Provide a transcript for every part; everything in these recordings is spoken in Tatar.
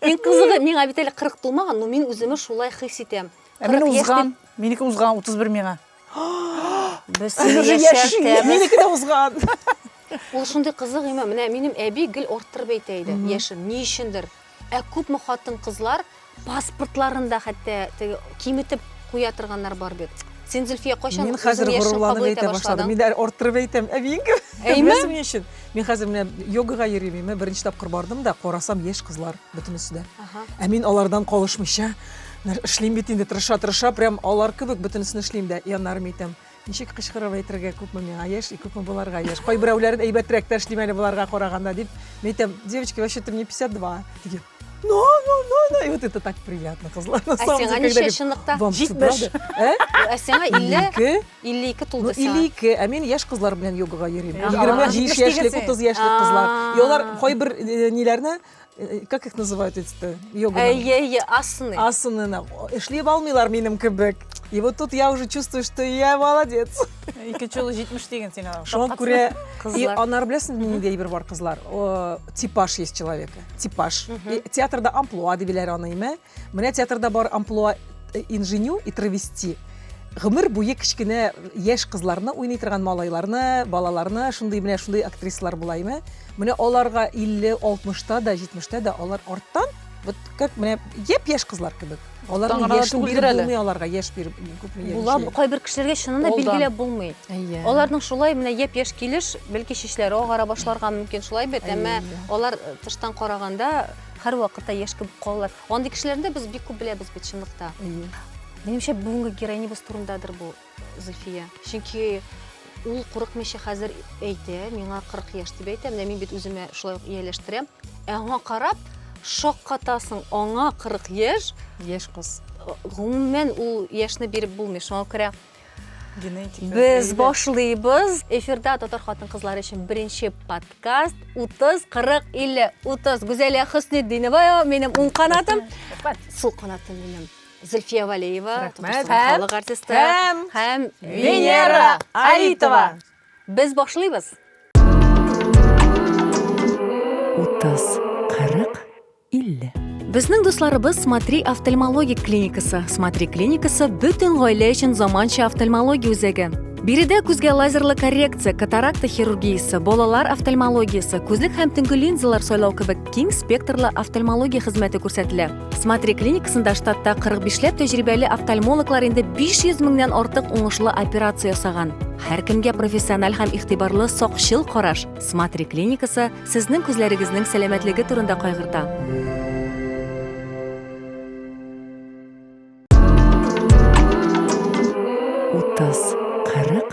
Иң кызыгы, миңа бит әле 40 тулмаган, но мин үземә шулай хис итәм. Ә мин узган, минеке узган 31 миңа. Без яшәртәбез. Минеке дә узган. Ул шундый кызык имә, менә минем әби гел арттырып әйтә иде, яшен, ни өчендер. Ә күпме хатын-кызлар паспортларын да хәтта киметеп куя торганнар бар бит. Син, Зөлфия, кайчан Мин хәзер горурланып әйтә башладым. Мин дә арттырып әйтәм, әбиең кебек. Әйме? Өчен. Мин хәзер менә йогага йөрим, мин беренче тапкыр бардым да, карасам яшь кызлар бөтенесе дә. Ә мин алардан калышмыйча эшлим бит инде, тырыша-тырыша, прям алар кебек бөтенесен эшлим дә, яннарым әйтәм. Ничек кычкырып әйтергә күпме миңа яшь и күпме боларга яшь. Кайберәүләрен әйбәтрәк тә эшлим әле боларга караганда дип. Мин әйтәм, девочки, вообще-то мне 52. Диген. Но, но, но, но. И вот это так приятно, кызлар. На самом деле, когда говорят, шынлыкта? Вам что, правда? Э? Ә сиңа 50 52 тулды сиңа. 52. Ә мин яшь кызлар белән йогага йөрим. 25 яшьлек, 30 яшьлек кызлар. И алар кайбер э, ниләрне Э, как их называют эти-то? Йога. Э, э, асаны. Асаны. Эшлеп алмыйлар минем кебек. И вот тут я уже чувствую, что я молодец. Ике чулы җитмеш деген син. Шуңа күрә, и анар беләсең, ниндәй бер бар кызлар. Типаж есть человека. типаж. И театрда амплуа дип биләр аны, име? Менә театрда бар амплуа э, инженю и травести. Гомер буе кечкенә яшь кызларны уйный торган малайларны, балаларны, шундый менә шундый актрисалар була, име? Менә аларга 50, 60 та да, 70 та да алар арттан, вот как менә япь-яшь кызлар кебек. Аларның Таңгырада яшен түгелдер биреп әле. булмый аларга, яшь биреп күпме яши. Була, кайбер кешеләргә чыннан да Алдан. билгеләп булмый. Әйе. Аларның шулай менә япь-яшь килеш, бәлки чәчләре агара башларга мөмкин шулай бит, Әйе, әмма әйе. алар э, тыштан караганда һәрвакытта яшь кебек калалар. Андый кешеләрне дә без бик күп беләбез бит чынлыкта. Әйе. Минемчә, бүгенге героинябыз турындадыр бу. Зөлфия. Чөнки ул курыкмыйча хәзер әйтә, миңа 40 яшь дип әйтә, менә мин бит үземә шулай ук ияләштерәм. Ә аңа карап, шаккатасың, аңа 40 яшь. Яшь кыз. Гомумән ул яшьне биреп булмый, шуңа күрә Генетика. Без башлыйбыз. Эфирда татар хатын кызлары өчен беренче подкаст 30 40 50 30 Гүзәлия Хөснетдинова минем уң канатым. Сул канатым минем. Зөлфия Валеева, Татарстан халык артисты һәм һәм Венера Алитова. Без башлыйбыз. Утыз, кырык, илле. Безнең дусларыбыз Смотри офтальмологик клиникасы. Смотри клиникасы бөтен гаилә өчен заманча офтальмология үзәге. Биредә күзгә лазерлы коррекция, катаракта хирургиясе, балалар офтальмологиясе, күзлек һәм төнге линзалар сайлау кебек киң спектрлы офтальмология хезмәте күрсәтелә. Смотри клиникасында штатта 45ләп тәҗрибәле офтальмологлар инде 500 меңнән артык уңышлы операция ясаган. Һәркемгә профессиональ һәм игътибарлы сакчыл караш. Смотри клиникасы сезнең күзләрегезнең сәламәтлеге турында кайгырта. Утыз, кырык,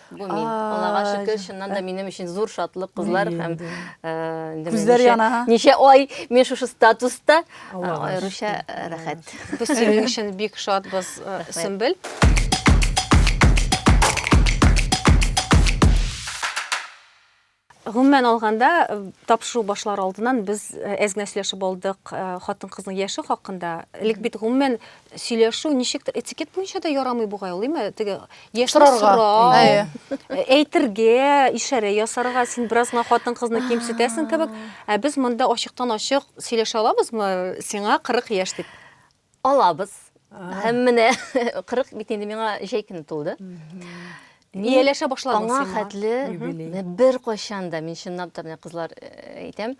Бу мин. Аллага шөкер, чыннан да минем өчен зур шатлык кызлар һәм күзләр яна. Ничә ай мин шушы статуста аеруча рәхәт. Без синең өчен бик шатбыз, Сөмбел. Гомумән алганда, тапшыру башлар алдыннан без әз генә сөйләшеп алдык хатын-кызның яше хакында. Элек бит гомумән сөйләшү ничектер этикет буенча да ярамый бугай ул, име? Теге яшьне сорау, әйтергә, ишарә ясарга, син бераз гына хатын-кызны кимсетәсең кебек. Ә без монда ачыктан-ачык сөйләшә алабызмы, сиңа 40 яшь дип? Алабыз. Һәм менә 40 бит инде миңа җәй көне тулды. Ияләшә башладың сиңа. Аңа хәтле бер кайчан да, мин чынлап та менә кызлар э, әйтәм,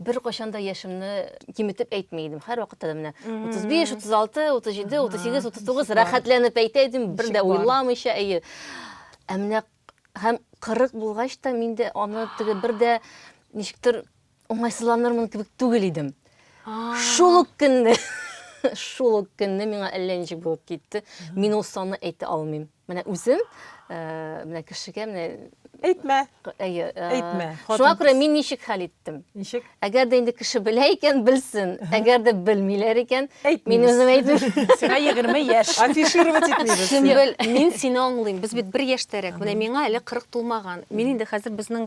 бер кайчан да яшемне киметеп әйтми идем. Һәр вакытта да менә 35, 36, 37, 38, 39 рәхәтләнеп әйтә идем, бер дә уйламыйча, әйе. Ә менә һәм 40 булгач та миндә аны теге бер дә ничектер Уңайсызланырмын кебек түгел идем. Шул ук көнне, шул ук көнне миңа әллә ничек булып китте. Мин ул санны әйтә алмыйм. Менә үзем, э, менә кешегә менә Әйтмә. Әйе. Э, Әйтмә. Шуңа күрә мин ничек хәл иттем? Ничек? Әгәр дә инде кеше белә икән, белсен. Әгәр дә белмиләр икән, мин үзем әйтмим. Сиңа 20 яшь. Афишировать итмибез. Син бел, мин сине аңлыйм. Без бит бер яшьтәрәк. Менә миңа әле 40 тулмаган. Мин инде хәзер безнең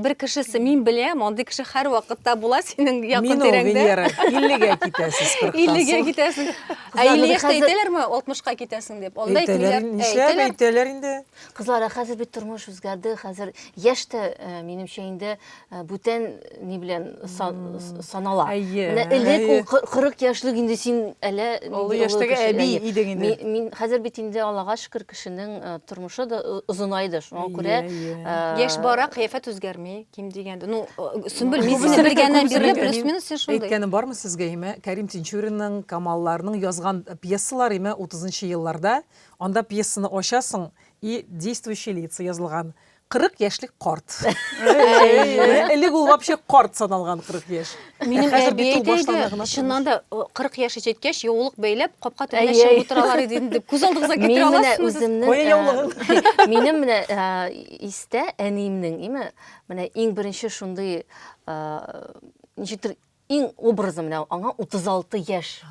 Бер кешесе мин беләм, андый кеше һәрвакыт та була синең якын тирәңдә. Мин ул Венера, 50-гә китәсез 40 тан. 50-гә китәсез. Ә 50 яшьтә әйтәләрме 60-ка китәсең дип? Анда әйтмиләр. Әйтәләр, нишләп әйтәләр инде? Кызлар, хәзер бит тормыш үзгәрде, хәзер яшь тә, минемчә инде бүтән ни белән санала. Менә элек ул 40 яшьлек инде син әле олы яшьтәге әби идең инде. Мин хәзер бит инде Аллага шөкер, кешенең э, тормышы да э, озынайды шуңа күрә э, яшь бара кыяфәт үзгәрми ким дигәндә ну сөмбел мин сине белгәннән бирле плюс минус син шундый әйткәнем бармы сезгә имә кәрим тинчуринның камалларның язган пьесалары имә утызынчы елларда анда пьесаны ачасың и действующие лица язылган 40 яшьлек карт. Элек ул вообще карт саналган 40 яшь. Минем әби әйтәйде, чыннан да 40 яшь җиткәч, яулык бәйләп, капка төбенә чыгып утыралар иде инде. Күз алдыгызга китерә аласыз. Кая яулыгын? Минем менә истә әниемнең, име, менә иң беренче шундый ничектер иң образы менә аңа 36 яшь.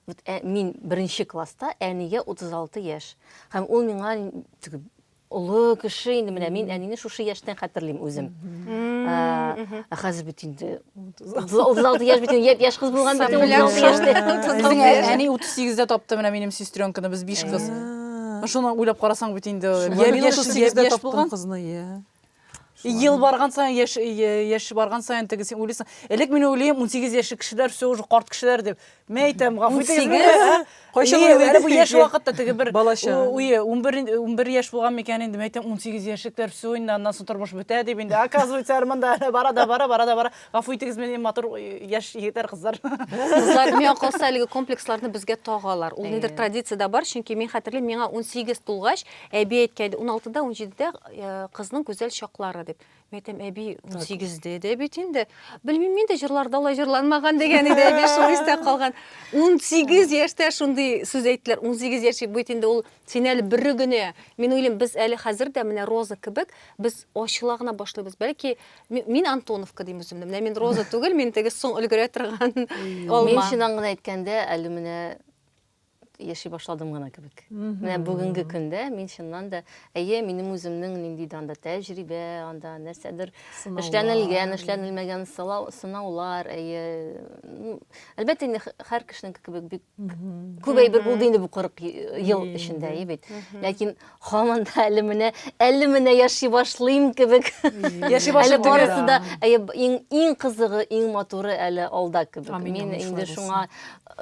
Вот ә, мин беренче класста, әнигә 36 яшь. Һәм ул миңа теге олы кеше инде менә мин әнине шушы яшьтән хәтерлим үзем. Ә, ә хәзер бит инде 36 яшь бит инде яшь кыз булган бит инде 36 яшьтә. Безнең ә- әни 38-дә тапты менә минем сестренканы, без биш кыз. Ну, Шуны уйлап карасаң бит инде. Шулай. Я мин яшь- 38-дә яшь таптым булган. кызны, я. Ел барган саен, яш, яш барган саен теге син уйлыйсың. Элек мин уйлыйм, 18 яшьлек кешеләр все уже карт кешеләр дип. Мә әйтәм, гафу итегез. Кайчан уйлыйсыз? Бу яшь вакытта теге бер уе, 11 11 яшь булган микән инде, мә әйтәм, 18 яшьлекләр все инде аннан соң тормыш бетә дип инде. Оказывается, арманда бара да бара, бара да бара. Гафу итегез, мин матур яшь егетләр, кызлар. Кызлар, миңа калса әлеге комплексларны безгә тагалар. Ул нидер традиция дә бар, чөнки мин хәтерлим, миңа 18 тулгач, Әби әйткән иде, уналтыда, унҗидедә э, кызның гүзәл чаклары дип. Мин әйтәм, әби унсигездә дә бит инде. Белмим, мин дә җырларда алай җырланмаган дигән иде, әби шул истә калган. Унсигез яшьтә шундый сүз әйттеләр. Унсигез яшь бит инде ул син әле бер генә. Мин уйлыйм, без әле хәзер дә менә Роза кебек, без ачыла гына башлыйбыз. Бәлки ми- мин Антоновка дим үземне. Менә мин Роза түгел, мин теге соң өлгерә торган Мин алма. чыннан гына әйткәндә, әле менә яши башладым гына кебек. Менә бүгенге көндә мин чыннан да, әйе, минем үземнең нинди дә анда тәҗрибә, анда нәрсәдер эшләнелгән, эшләнелмәгән сынаулар, әйе. Әлбәттә, инде һәр кешенең кебек бик күп әйбер булды инде бу 40 ел эчендә, әйе бит. Ләкин Хаман да әле менә, әле менә яши башлыйм кебек. Яши башлыйм. Әле барысы да, әйе, иң, иң кызыгы, иң матуры әле алда кебек. Амин, Мин амин, инде шуңа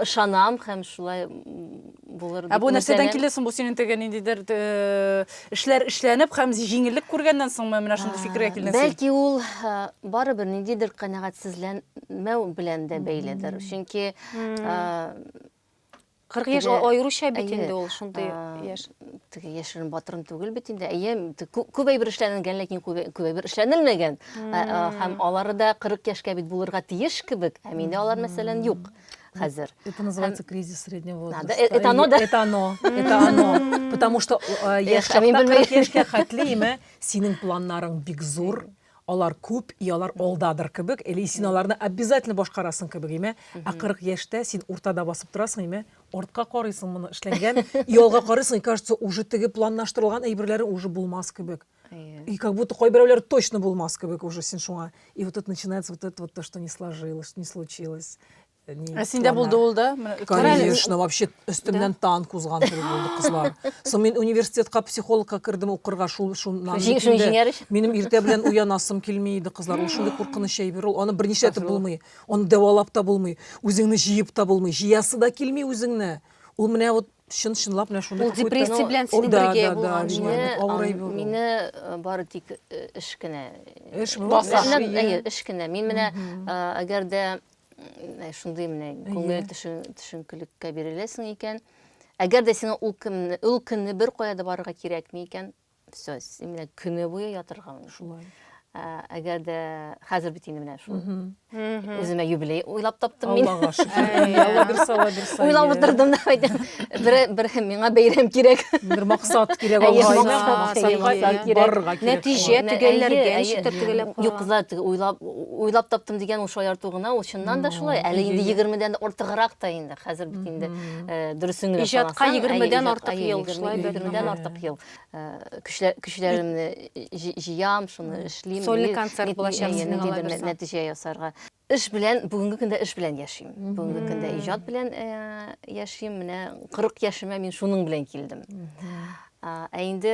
ышанам һәм шулай булыр дип. Ә бу нәрсәдән килә соң бу синең теге ниндидер э, эшләр эшләнеп һәм җиңеллек күргәннән соңмы менә шундый фикергә килдең син? Бәлки ул э, барыбер ниндидер канәгатьсезләнмәү белән дә бәйледер. Чөнки э, 40 яшь теге- аеруча бит әйе, инде ул шундый а, яшь. теге яшерен батырын түгел бит инде. Әйе, те- кү- күп әйбер эшләнгән, ләкин күп күп әйбер эшләнелмәгән. Ә, ә, Һәм алары да 40 яшькә бит булырга тиеш кебек, һәм инде алар мәсәлән юк хәзер. Это называется кризис среднего возраста. да, э- это оно, да? Это оно, это оно. Потому что э, яшь Эх, а мин чакта белмәгән. 40 яшькә хәтле име, синең планнарың бик зур. Алар күп, и алар алдадыр кебек, или син аларны обязательно башкарасың кебек, име? Ә 40 яшьтә син уртада басып торасың, име? Артка карыйсың, моны эшләнгән, и алга карыйсың, и кажется, уже теге планлаштырылган әйберләрең уже булмас кебек. И как будто кайберәүләре точно булмас кебек уже син шуңа. И вот это начинается вот это вот то, что не сложилось, не случилось. Ә синдә булды ул да? Конечно, вообще өстемнән танк узган кебек булды кызлар. Соң мин университетка психологка кердем укырга шул шуннан. Минем иртә белән уянасым килми иде кызлар. Ул шундый куркыныч әйбер ул. Аны берничә итеп булмый. Аны дәвалап та булмый. Үзеңне җыеп та булмый. Җыясы да килми үзеңне. Ул менә вот чын чынлап менә шундый. Ул депрессия белән синең бергә булган. Мине э, бары тик э, эш кенә. Эш баса. Эш кенә. Мин менә әгәр дә Э, шундый менә күңел төшенкелеккә биреләсең икән әгәр дә сиңа ул көнне ул көнне бер кая да барырга кирәкми икән все син менә көне буе ятырга шулай э, әгәр дә хәзер бит инде менә шул үземә юбилей уйлап таптым мин аллага шөкер уйлап утырдым да әйтәм бер бер миңа бәйрәм кирәк бер максат кирәк алга барырга кирәк нәтиҗә төгәлләргә ничектер төгәлләп юк зат уйлап уйлап таптым дигән ул шаярту гына ул чыннан да шулай әле инде егермедән ортыграк та инде хәзер бит инде э, дөресен генә иҗатка егермедән артык ел шулай егермедән артык ел э, көчләремне җыям шуны эшлим сольный концерт булачак сезнең нәтиҗә ясарга эш белән бүгенге көндә эш белән яшим бүгенге көндә иҗат белән э, яшим менә кырык яшемә мин шуның белән килдем ә инде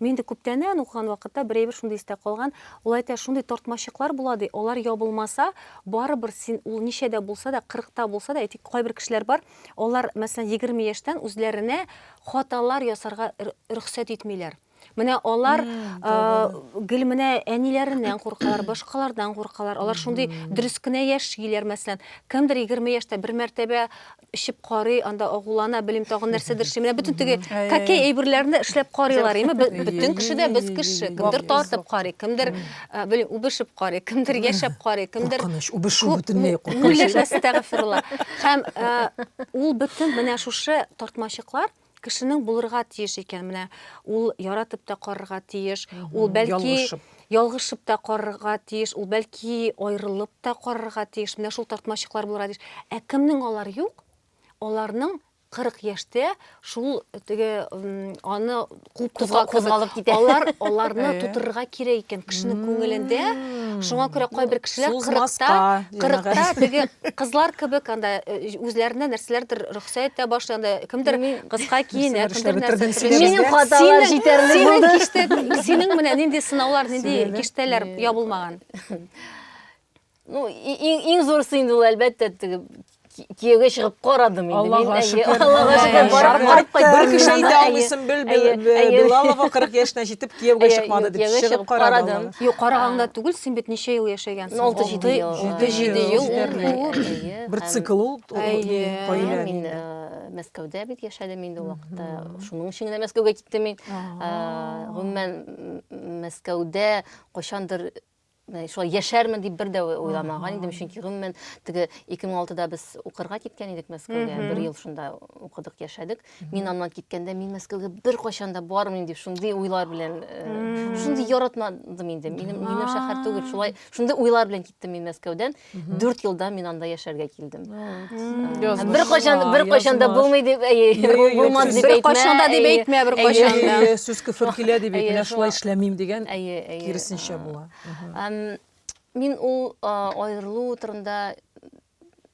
Мин инде күптәннән, укыган вакытта бер әйбер шундый истә калган, ул әйтә, шундый тартмачыклар була, ди, алар ябылмаса, барыбер син, ул ничә дә булса да, кырыкта булса да, әйтик, кайбер кешеләр бар, алар, мәсәлән, егерме яшьтән үзләренә хаталар ясарга рөхсәт итмиләр. Менә алар гел менә әниләреннән куркалар, башкалардан куркалар. Алар шундый дөрес кенә яшиләр, мәсәлән. Кемдер егерме яшьтә бер мәртәбә эчеп карый, анда агулана, белим тагын нәрсәдер эшли. Менә бөтен теге какей әйберләрне эшләп карыйлар, име? Бөтен кеше дә без кеше. Кемдер тартып карый, кемдер белим үбешеп карый, кемдер яшәп карый, кемдер Куркыныч, үбешү бөтенләй куркыныч. Үләшәсе тагы фырыла. Һәм ул бөтен менә шушы тартмачыклар кешенең булырга тиеш икән. Менә ул яратып та карарга тиеш, ул бәлки ялгышып ялгышып та карарга тиеш, ул бәлки аерылып та карарга тиеш. Менә шул тартмачыклар булырга тиеш. Ә кемнең алар юк? Аларның 40 яшьтә шул теге аны куып тозга кузгалып китә. Алар аларны тутырырга кирәк икән кешенең күңелендә. Шуңа күрә кайбер кешеләр 40та, 40та теге кызлар кебек анда үзләренә нәрсәләрдер Сәйттә башланды. Кемдер кыска киенә, кемдер нәрсә. Минем хаталар җитәрлек булды. Синең менә нинди сынаулар, нинди киштәләр ябылмаган? Ну, иң зурысы инде ул әлбәттә теге кияүгә чыгып карадым инде. Аллага шөкер. Аллага шөкер. Барып кайт. Бер кеше әйтә алмыйсың, Билалова 40 яшенә җитеп кияүгә чыкмады дип чыгып карадым. Юк, караганда түгел, син бит ничә ел яшәгәнсең? 6-7 ел. Бер цикл ул. Әйе, мин Мәскәүдә бит яшәдем инде ул вакытта. Шуның өчен генә Мәскәүгә киттем мин. Гомумән, Мәскәүдә кайчандыр шулай яшәрмен дип бер дә уйламаган идем, чөнки гомумән теге 2006да без укырга киткән идек Мәскәүгә, бер ел шунда укыдык, яшәдек. Мин аннан киткәндә, мин Мәскәүгә беркайчан да бармыйм дип, шундый уйлар белән, шундый яратмадым инде. Минем шәһәр түгел, шулай, шундый уйлар белән киттем мин Мәскәүдән. Дүрт елда мин анда яшәргә килдем. Бер кайчан бер кайчан да булмый дип, булмады дип әйтмә. Бер кайчан да дип әйтмә, бер кайчан да. Сүз күфер килә дип әйтмә, шулай эшләмим дигән киресенчә була. Мин ул аерылу турында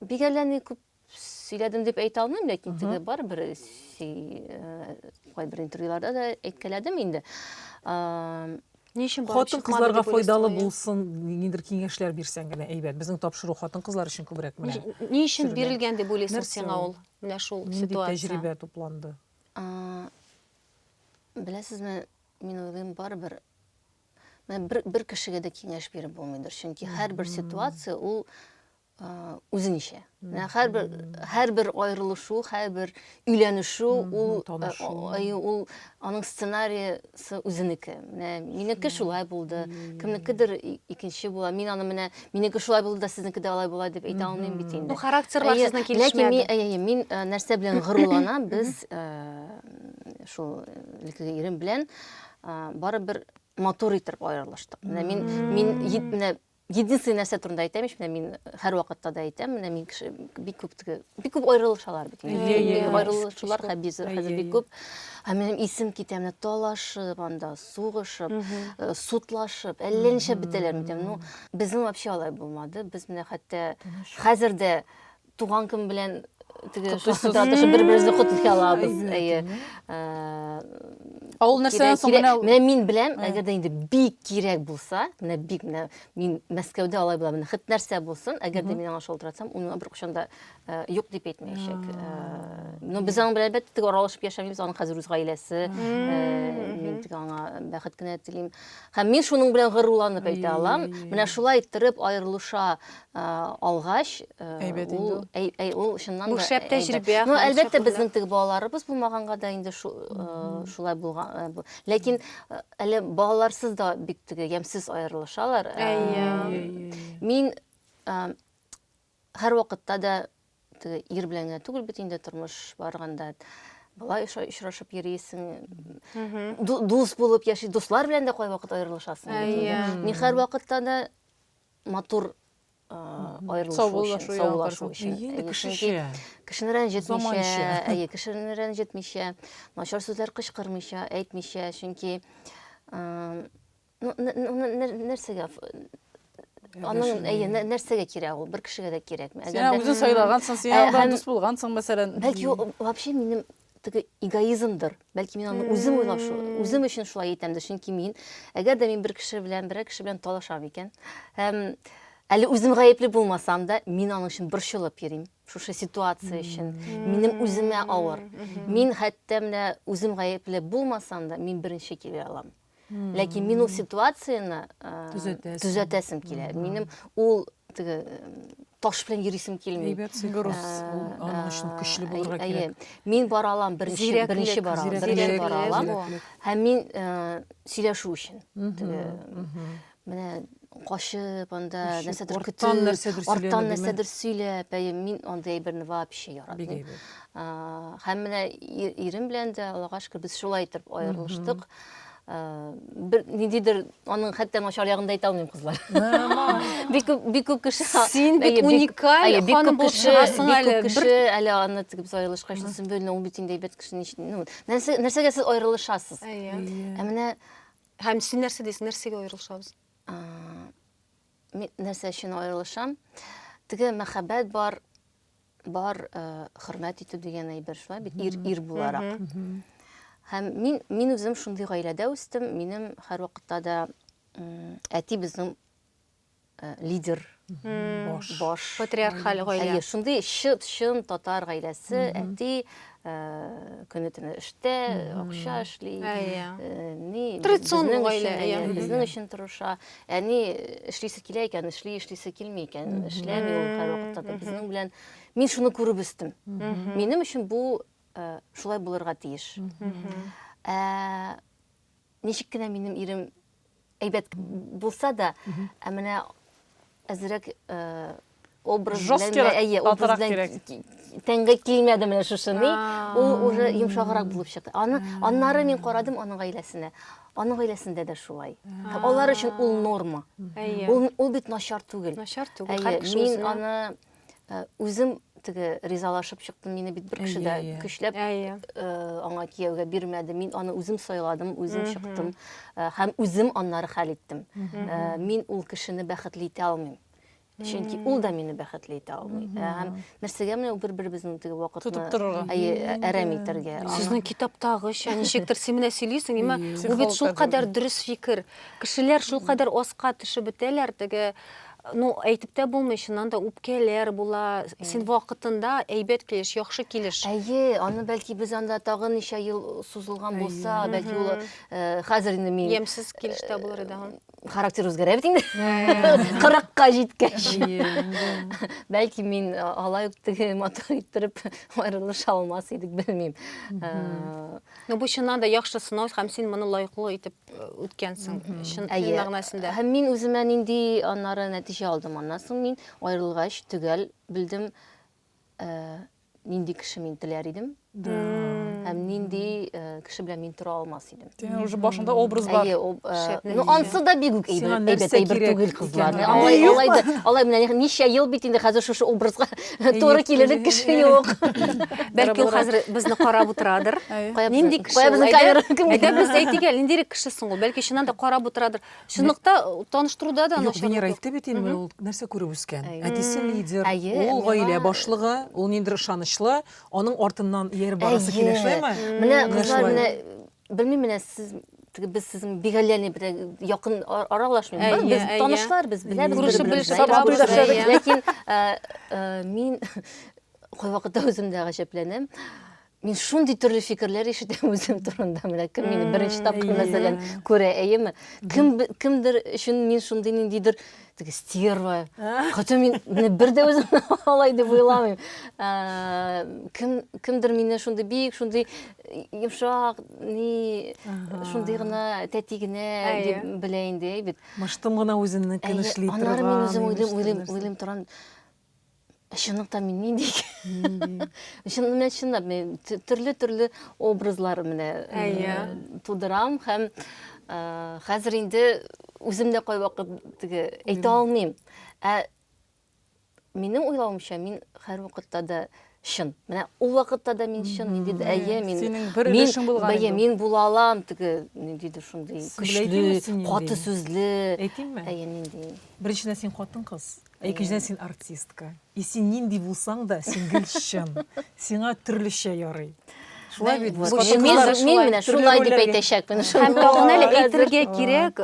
бик әллә ни күп сөйләдем дип әйтә алмыйм, ләкин теге барыбер э, кайбер интервьюларда да әйткәләдем инде. Ни өчен барып Хатын кызларга файдалы булсын, ниндидер киңәшләр бирсәң генә әйбәт. Безнең тапшыру хатын кызлар өчен күбрәк менә. Ни өчен бирелгән дип уйлыйсың сиңа ул? Менә шул ситуация. Нинди тәҗрибә тупланды? Беләсезме, мин уйлыйм, барыбер бер, бер кешегә дә киңәш биреп булмыйдыр. Чөнки һәрбер ситуация ул үзе ничә менә һәрбер һәрбер аерылышу һәрбер өйләнешү ул ул аның сценариясы үзенеке менә минеке шулай булды кемнекедер икенче була мин аны менә минеке шулай булды да сезнеке дә алай була дип әйтә алмыйм бит инде характерлар сезнең килешмәде ләкин мин нәрсә белән горурланам без шул илекеге ирем белән барыбер матур итеп аерылыштык менә мин мин менә Единственный нәрсә турында әйтәм ич, менә мин һәрвакытта да әйтәм, менә мин кеше бик күп теге, бик күп аерылышалар бит. Аерылышулар хәбизер, хәзер бик күп. Ә минем исем китә, менә талашып анда, сугышып, э, сутлашып, әллә ничә бетәләр микән? Ну, безнең вообще алай булмады. Без менә хәтта хәзер дә Туган көн белән теге шаһзадәшә бер-беребезне котлый алабыз. Әйе. Ул нәрсәдән соң менә менә мин беләм, әгәр дә инде бик кирәк булса, менә бик менә мин Мәскәүдә алай була, менә хит нәрсә булсын, әгәр дә мин аңа шалтыратсам, ул миңа беркайчан да юк дип әйтмәячәк. Но без аның белән әлбәттә теге аралашып яшәмибез, аның хәзер үз гаиләсе. Мин теге аңа бәхет кенә телим. Һәм мин шуның белән горурланып әйтә алам, менә шулай иттереп аерылыша алгач, әйбәт инде ул. Әй, ул чыннан да. Бу шәп тәҗрибә. Ну, әлбәттә, безнең теге балаларыбыз булмаганга да инде шулай булган. Ләкин әле балаларсыз да бик теге ямсыз аерылышалар. Мин һәр вакытта да теге ир белән генә түгел бит инде тормыш барганда былай очрашып йөрисең дус булып яши дуслар белән дә кайвакыт аерылышасың һәр вакытта да матур аерылышу саубуллашу саубуллашу өчен әйе кешечә кешене рәнҗетмичә әйе кешене рәнҗетмичә начар сүзләр кычкырмыйча әйтмичә чөнки нәрсәгә аның әйе нәрсәгә кирәк ул бер кешегә дә кирәкме син үзең сайлагансың син дус булгансың мәсәлән бәлки вообще минем теге эгоизмдыр. Бәлки мин аны үзем уйлап, үзем өчен шулай итәмдер. Чөнки мин, әгәр дә мин бер кеше белән, берәр кеше белән талашам икән, һәм әле үзем гаепле булмасам да, мин аның өчен борчылып йөрим. Шушы ситуация өчен минем үземә авыр. Мин хәтта менә үзем гаепле булмасам да, мин беренче килә алам. ләкин мин ул ситуацияне төзәтәсем килә минем ул теге таш белән йөрисем килми груз аның өчен көчле булырга кирәк мин бара алам беренче беренче бара алам беренче бара алам һәм мин сөйләшү өчен Менә качып анда Качып, нәрсәдер арттан көтеп, нәрсәдер арттан сөйләнү, нәрсәдер сөйләп, әйе, мин андый әйберне вообще Бик яратмыйм. әйбәт. А, Һәм менә и- ирем белән дә, Аллага шөкер, без шулай итеп аерылыштык. А, Бер ниндидер аның хәтта начар ягын да әйтә алмыйм, кызлар. Бик күп, бик күп кеше Син бит Әйе, бик- уникаль әйе, бик ханым күп булып кеше, чыгасың бик әле. күп Бер- кеше әле аны теге без аерылышка өчен Сөмбелне, ул бит инде әйбәт кеше, нич- ну, нәрсә, нәрсәгә сез аерылышасыз? Әйе. Ә менә Һәм син нәрсә дисең, нәрсәгә аерылышабыз? Мин нәрсә өчен аерылышам? Теге мәхәббәт бар, бар э, хөрмәт итү дигән әйбер шулай бит, ир, ир буларак. Һәм мин, мин үзем шундый гаиләдә үстем, минем һәрвакытта да әти безнең лидер баш баш патриархаль гаилә әйе шундый чыт чын татар гаиләсе әти көне төне эштә акча эшли ни традиционный гаилә безнең өчен тырыша әни эшлисе килә икән эшли эшлисе килми икән эшләми ул һәрвакытта да безнең белән мин шуны күреп үстем минем өчен бу шулай булырга тиеш ничек кенә минем ирем әйбәт булса да, ә менә әзерәк э, образ белән әйе, образ белән тәңгә килмәде менә шушы ни. Ул уже йомшаграк булып чыкты. Аны аннары мин карадым аның гаиләсенә. Аның гаиләсендә дә шулай. Һәм алар өчен ул норма. Ул ул бит начар түгел. Начар түгел. Мин аны э, үзем теге ризалашып чыктым мине бит бер кеше дә көчләп э, аңа кияүгә бирмәде мин аны үзем сайладым үзем чыктым э, һәм үзем аннары хәл иттем мин ул кешене бәхетле итә алмыйм чөнки ул да мине бәхетле итә алмый һәм нәрсәгә менә бер беребезнең теге вакытны тотып торырга әйе әрәм итәргә сезнең китаптагыча ничектер син менә сөйлисең имә ул бит шулкадәр дөрес фикер кешеләр шулкадәр аска төшеп бетәләр теге Ну, әйтеп тә булмый, чыннан да үпкәләр була. Син вакытында әйбәт килеш, яхшы килеш. Әйе, аны бәлки без анда тагын ничә ел сузылган булса, бәлки ул э, хәзер инде мин Ямсыз килеш тә булыр иде. характер үзгәрә бит инде. 40-ка җиткәч. Бәлки мин э, алай ук теге матур иттереп аерылыша алмас идек, белмим. Э, Ну, бу чыннан да яхшы сынау һәм син моны лайыклы итеп үткәнсең чын тел мәгънәсендә һәм мин үземә нинди аннары нәтиҗә алдым аннан соң мин аерылгач төгәл белдем нинди кеше мин теләр идем һәм нинди кеше белән мин тора алмас идем синең уже башыңда образ бар ну ансы да бигүк әйбәт әйбәт түгел кызлар алай алай алай менә ничә ел бит инде хәзер шушы образга Туры килерлек кеше юк. Бәлки ул хәзер безне карап утырадыр. Нинди кеше? Кая безнең камера? Әйдә без әйтик әле, ниндирәк кеше соң ул? Бәлки чыннан да карап утырадыр. Чынлыкта э, таныштыруда да Юк, Венера әйтте бит инде, ул нәрсә күреп үскән. Әтисе лидер, ул гаилә башлыгы, ул ниндер ышанычлы, аның артыннан ияреп барасы килә, шулаймы? Менә кызлар менә Белмим менә сез без сезнең бигаләне бер якын аралашмыйбыз. Без танышлар, без беләбез. Күрешеп белешеп барабыз. Ләкин мин кайвакытта үзем дә гаҗәпләнәм. Мин шундый төрле фикерләр ишетәм үзем турында. Менә кем мине беренче тапкыр мәсәлән күрә, әйеме? Кем кемдер өчен мин шундый ниндидер теге стерва хотя мин менә бер дә үзем алай дип уйламыйм кем кемдер мине шундый бик шундый йомшак ни шундый гына тәти генә дип белә инде бит мыштым гына үзеннекен эшли торган аннары мин үзем уйлыйм уйлыйм уйлыйм торам Чынлыкта мин нинди икән? Чын менә чынлап мин төрле-төрле образлар менә тудырам һәм хәзер инде үзем дә кайвакыт теге әйтә алмыйм. Ә минем уйлавымча мин һәрвакытта да чын. Менә ул вакытта да мин чын, нинди дә әйе, мин Синең бер өлешең булган. Әйе, мин була алам теге нинди дә шундый көчле, каты сүзле. Әйтимме? Әйе, нинди. Беренчедән син хатын-кыз. Ә икенчедән син артистка. И син нинди булсаң да, син гел чын. Сиңа төрлечә ярый. Шулай бит. Мин менә шулай дип әйтәчәкмен. Һәм тагын әле әйтергә кирәк,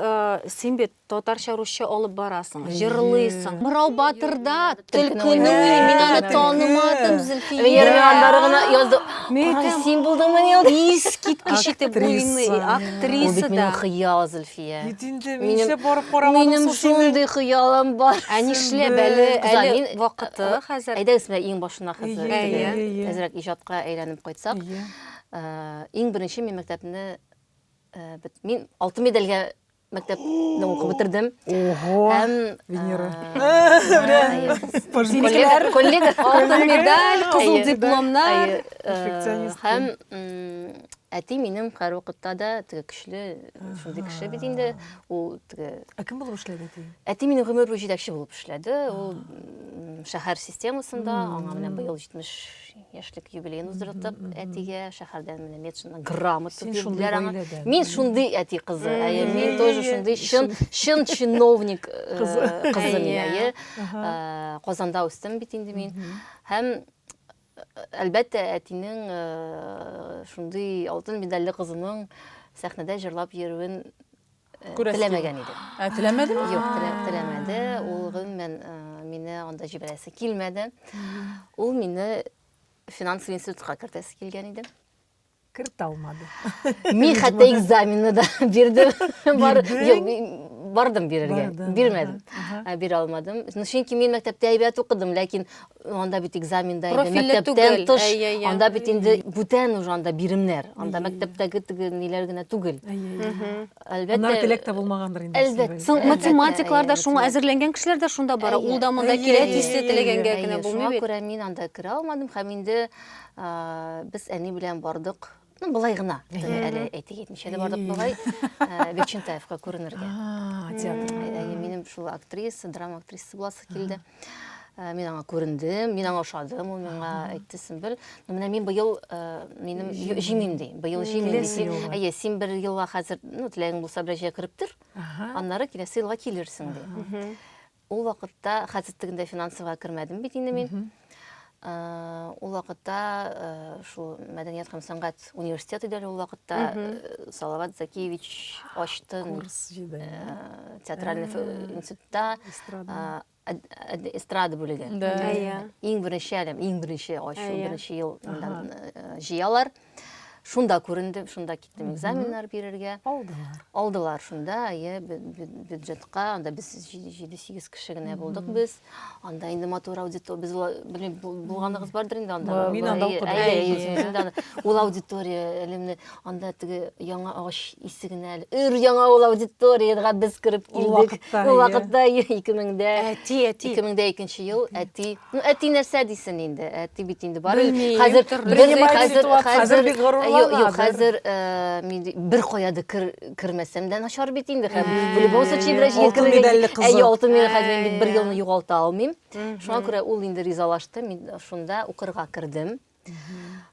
син бит татарча, русча алып барасың, җырлыйсың. Мырау батырда төлкене уйный, мин аны танымадым, Зөлфия. Венера Миганбара гына язды. Мин син булдыңмы ни ул? Искиткеч итеп уйный, актриса да. Ул бит минем хыял, Зөлфия. Иә. Кит инде, минше барып карамадым Минем шундый хыялым бар. Ә нишләп әле, әле мин вакыты хәзер. Әйдәгез менә иң башына хәзер. Әзрәк иҗатка әйләнеп кайтсак. Иң беренче мин мәктәпне мин алтын медальгә мәктәпне укып бетердем. Ого! Һәм Венера. Коллега, коллега, алтын медаль, кызыл дипломнар. Һәм әти минем һәрвакытта да теге көчле шундый кеше бит инде ул теге ә кем булып эшләде әти әти минем гомер буе җитәкче булып эшләде ул шәһәр системасында аңа менә быел җитмеш яшьлек юбилеен уздырдык әтигә шәһәрдән менә медшина грамота бирделәр аңа мин шундый әти кызы әйе мин тоже шундый чын чын чиновник э, кызы мин әйе э, казанда үстем бит инде мин һәм Әлбәттә, әтинең шундый алтын медальле кызының сәхнәдә җырлап йөрүен теләмәгән иде. Ә теләмәдеме? Юк, теләмәде. Ул гомумән мине анда җибәрәсе килмәде. Ул мине финанс институтка кертәсе килгән иде. кірте алмады мен хәтта экзаменді да бердім бардым берерге бермедім бере алмадым чөнки мен мектепте әйбәт укыдым ләкин анда бит экзаменда мәктәптән тыш анда бит инде бүтән уже анда биремнәр анда мәктәптәге теге ниләр генә түгел әлбәттә анар теләк тә булмагандыр инде әлбәттә соң математиклар да шуңа әзерләнгән кешеләр дә шунда бара ул да монда килә тиз теләгәнгә генә булмый бит шуңа күрә мин анда керә алмадым һәм инде Без әни белән бардык. Ну, былай гына. Әле әйтик әйтмичә дә бардык былай. Гөлчентаевка күренергә. Минем шул актриса, драма актрисасы буласы килде. Э, мин аңа күрендем мин аңа ошадым ул миңа әйтте сөнбел ну менә мин быел э, минем җимим ди быел җимим әйе син бер елга хәзер ну теләгең булса бераз җәй кереп тор аннары киләсе елга килерсең ди Ул вакытта хәзер тегендә финансовыйга кермәдем бит инде мин. Ул вакытта шул мәдәният һәм сәнгать университеты иде ул вакытта Салават Закиевич ачты курс җиде. Театральный институтта эстрада бүлеге. Иң беренче әлем, иң беренче ачу, беренче ел җыялар. Шунда күрендем, шунда киттем экзаменнар бирергә. Алдылар. Алдылар шунда, әйе, бюджетка, анда без 7-8 кеше генә булдык без. Анда инде матур аудитория, без белмим, булганыгыз бардыр инде анда. Мин анда укыдым. Ул аудитория элемне анда теге яңа агач исегенә әле. Өр яңа ул аудиториягә без кереп килдек. Ул вакытта 2000дә. Әти, әти. 2000дә икенче ел, әти. Ну, әти нәрсә дисен инде, әти бит инде бары Белмим, хәзер төрле бер- ситуация. хәзер Хәзер хәзер бик горурлана, Юк, юк, бер- хәзер э, мин ди- бер кая да кер, кермәсәм дә начар бит инде хәзер. Ә, В любом случае бераз җир алтын кергән- медальле кызы. Әйе, алтын медаль хәзер мин бит бер Әйе. елны югалта алмыйм. Шуңа күрә ул инде ризалашты, мин шунда укырга кердем.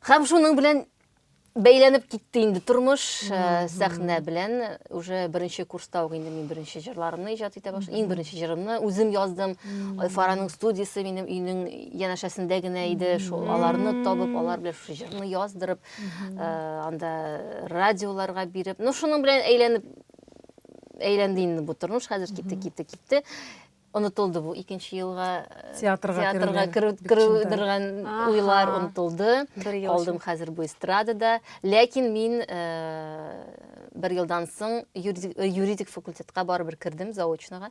Хәм шуның белән бәйләнеп китте инде тормыш э, сәхнә белән уже беренче курста ук инде мин беренче җырларымны иҗат итә башладым иң беренче җырымны үзем яздым фараның студиясе минем өйнең янәшәсендә генә иде шул аларны табып алар белән шушы җырны яздырып э, анда радиоларга биреп ну шуның белән әйләнеп әйләнде инде бу тормыш хәзер китте китте китте Онытылды бу икенче елга э, театрга, театрга керүдергән уйлар онытылды. Калдым хәзер бу эстрадада. Ләкин мин э, бер елдан соң юридик факультетка барыбер кердем заочнога.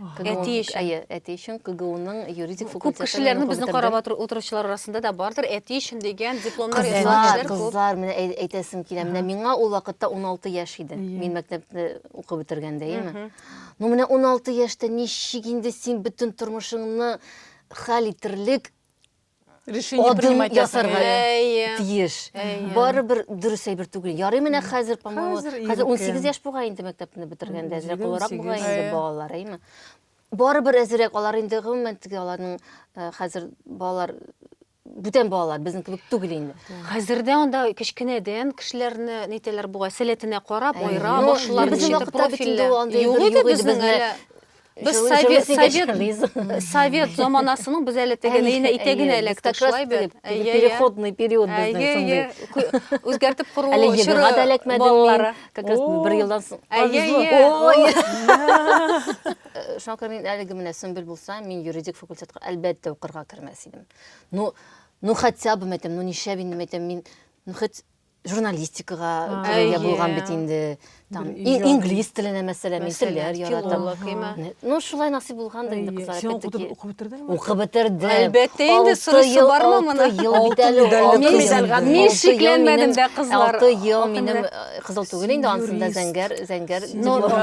Әти өчен. Әйе, әти өчен КГУның юридик факультеты. Күп кешеләрне безнең карап утыручылар арасында да бардыр. Әти өчен дигән дипломнар язганнар. Кызлар, менә әйтәсем килә. Менә миңа ул вакытта 16 яшь иде. Мин мәктәпне укып бетергәндә, яме. Ну менә 16 яшьтә ничек инде син бөтен тормышыңны хәл итерлек решение принимать ясарга тиеш. Барыбер дөрес әйбер түгел. Ярый менә хәзер, по-моему, хәзер 18 яшь бугай инде мәктәпне бетергәндә, әзрәк олырак бугай инде балалар, әйме. Барыбер әзрәк алар инде гомумән теге аларның хәзер балалар бүтән балалар безнең кебек түгел инде. Хәзер дә анда кечкенәдән кешеләрне нитәләр бугай, сәләтенә карап, айыра башлар, ничек профильле. Юк иде безнең әле. Без совет, совет, совет заманасының без әле теге нейне итәгенә элек ташлай бит. Переходный период безнең шундый. Үзгәртеп кору чоры. Әле егырга да эләкмәдем мин. Как раз бер елдан соң. Ой! Шуңа күрә мин әлеге менә Сөмбел булса, мин юридик факультетка әлбәттә укырга кермәс дидем. Ну, ну хотя бы мәйтәм, ну нишләп инде мәйтәм мин, ну хоть журналистикага керергә булган бит инде. Там инглиз теленә мәсәлән, мин телләр яратам. Ну шулай насыйп булган да инде кызлар. Син укып бетердеңме? Укып бетердем. Әлбәттә инде сорышы бармы моны? Мин шикләнмәдем дә кызлар. 6 ел минем кызыл түгел инде ансында зәңгәр, зәңгәр.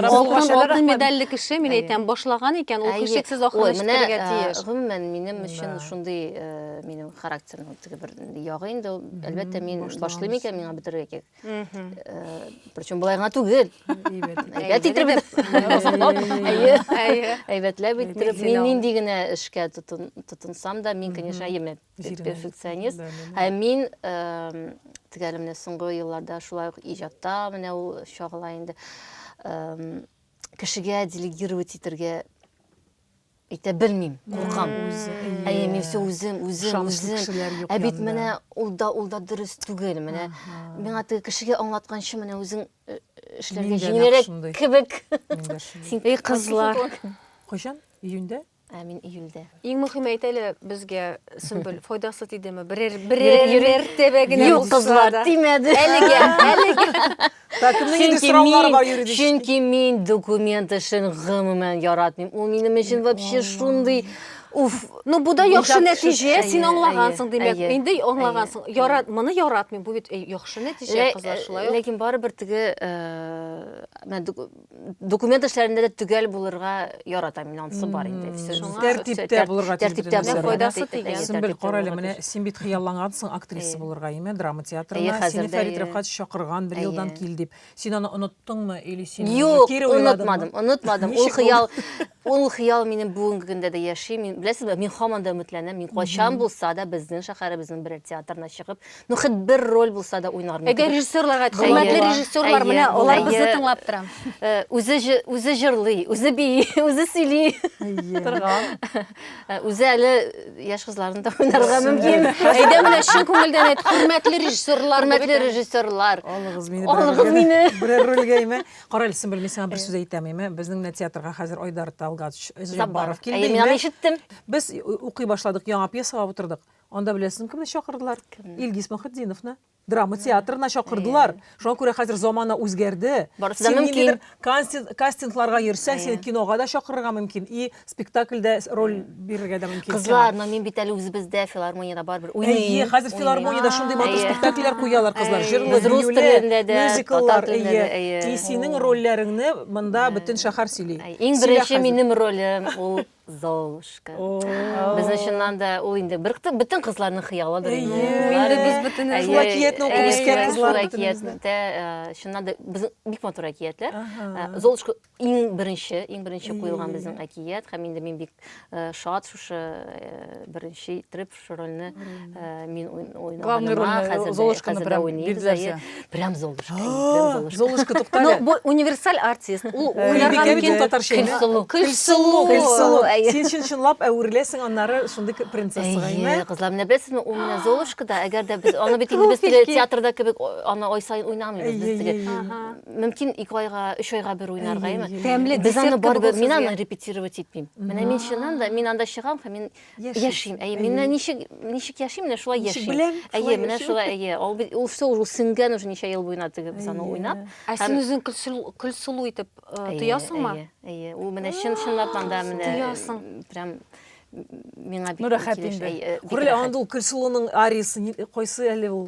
Алтын медальле кеше, мин әйтәм, башлаган икән, ул һичшиксез ахыры җитәргә тиеш. Гомумән, Минем өчен шундый э, минем характерның теге бер ягы инде ул. Әлбәттә, мин башлыйм икән, миңа бетерергә кирәк. Э, Причем болай гына түгел. Әйбәт иттереп. Әйе. Әйе. Әйбәтләп иттереп. Мин нинди генә эшкә тотын- тотынсам да, мин, конечно, әйеме перфекционист. да, да. Һәм мин эм, теге әле менә соңгы елларда шулай ук иҗатта менә ул чагыла инде. Эм, Кешегә делегировать итәргә Әйтә белмим, куркам. Әйе, мин все үзем, үзем, үзем. Ә бит менә ул да, ул да дөрес түгел. Менә миңа теге кешегә аңлатканчы менә үзең э, эшләргә җиңелрәк кебек. Эй, кызлар. Кайчан? Июньдә? Ә мин июльдә. Иң мөһим әйт әле безгә Сөмбел файдасы тидеме? Берәр берәр мәртәбә генә булса да. Юк, кызлар, тимәде. Әлегә, әлегә. Чөнки мин документ эшен гомумән яратмыйм. Ул минем өчен вообще шундый Уф, ну бу да яхшы нәтиҗә, син аңлагансың димәк. Инде аңлагансың. Ярат, моны яратмыйм. Бу бит яхшы нәтиҗә, кызлар шулай. Ләкин барыбер теге документ эшләрендә дә төгәл булырга яратам мин анысы бар инде тәртиптә булырга тәртиптә файдасы тигән сөмбел кара әле менә син бит хыяллангансың актриса булырга әйме драма театрына сине фәрит рәфкать чакырган бер елдан кил дип син аны оныттыңмы или син юк онытмадым онытмадым ул хыял ул хыял минем бүгенге көндә дә яши мин беләсезме мин һаман да өметләнәм мин кайчан булса да безнең шәһәребезнең берәр театрына чыгып Ну, хет бер роль булса да уйнар микән? Әгәр режиссерларга әйт, хөрмәтле режиссерлар, менә алар безне тыңлап тора. Үзе үзе җырлый, үзе бии, үзе сөйли. Торган. Үзе әле яшь кызларны да уйнарга мөмкин. Әйдә менә чын күңелдән әйт, хөрмәтле режиссерлар, хөрмәтле режиссерлар. Алыгыз мине. Алыгыз мине. Бер рольгә име? Карале, син белмисең, сиңа бер сүз әйтәм име? Безнең менә театрга хәзер Айдар Талгач Забаров килде. Мин ишеттем. Без укый башладык, яңа пьесага утырдык. Анда беләсең кемне чакырдылар? Кемне? Илгиз Мөхетдиновны. Драма театрына чакырдылар. Шуңа күрә хәзер замана үзгәрде. Барысы да мөмкин. Кастингларга йөрсәң, сине кинога да чакырырга мөмкин, и спектакльдә роль бирергә дә мөмкин. Кызлар, но мин бит әле үзебездә филармониядә барыбер уйныйм. Әйе, хәзер филармониядә шундый матур спектакльләр куялар кызлар. Җырлы, биюле, мюзикллар, әйе. И синең рольләреңне монда бөтен шәһәр сөйли. Иң беренче минем ролем ул Золушка. Без чыннан да ул инде бер бөтен кызларның хыялыдыр инде. Инде без бөтен шулай киятне укып үскән кызлар. Шулай киятмәтә, чыннан да без бик матур әкиятләр. Золушка иң беренче, иң беренче куелган безнең әкият һәм инде мин бик шат шушы беренче итеп Шу рольне э, мин Главный роль э, Золушканы прям билгеләсә. Прям Золушка. Золушка туктале. Ну, бу универсаль артист. Ул уйларга мөмкин татарча. Көлсылу. Көлсылу. Көлсылу. Син чын чынлап әверләсең аннары шундый принцессага, әйме? Әйе, кызлар, менә беләсезме, ул менә Золушка да, әгәр дә без аны бит инде без теге театрда кебек аны ай саен уйнамыйбыз без теге. Мөмкин 2 айга, 3 айга бер уйнарга, әйме? Тәмле. Без аны барыбер мин аны репетировать итмим. Менә мин чыннан да мин анда чыгам һәм мин Яшим. Әйе, мин менә ничек ничек яшим, менә шулай яшим. Ничек беләм? Әйе, менә шулай, әйе. Ул бит ул все уже сингән уже ничә ел буена теге без аны уйнап. Ә син үзең көлсулу итеп э, тоясыңмы? Әйе, әйе. Ул менә чын чынлап анда менә тоясың. Прям миңа бик рәхәт инде. Күрелә анда ул көлсулуның ариясы кайсы әле ул?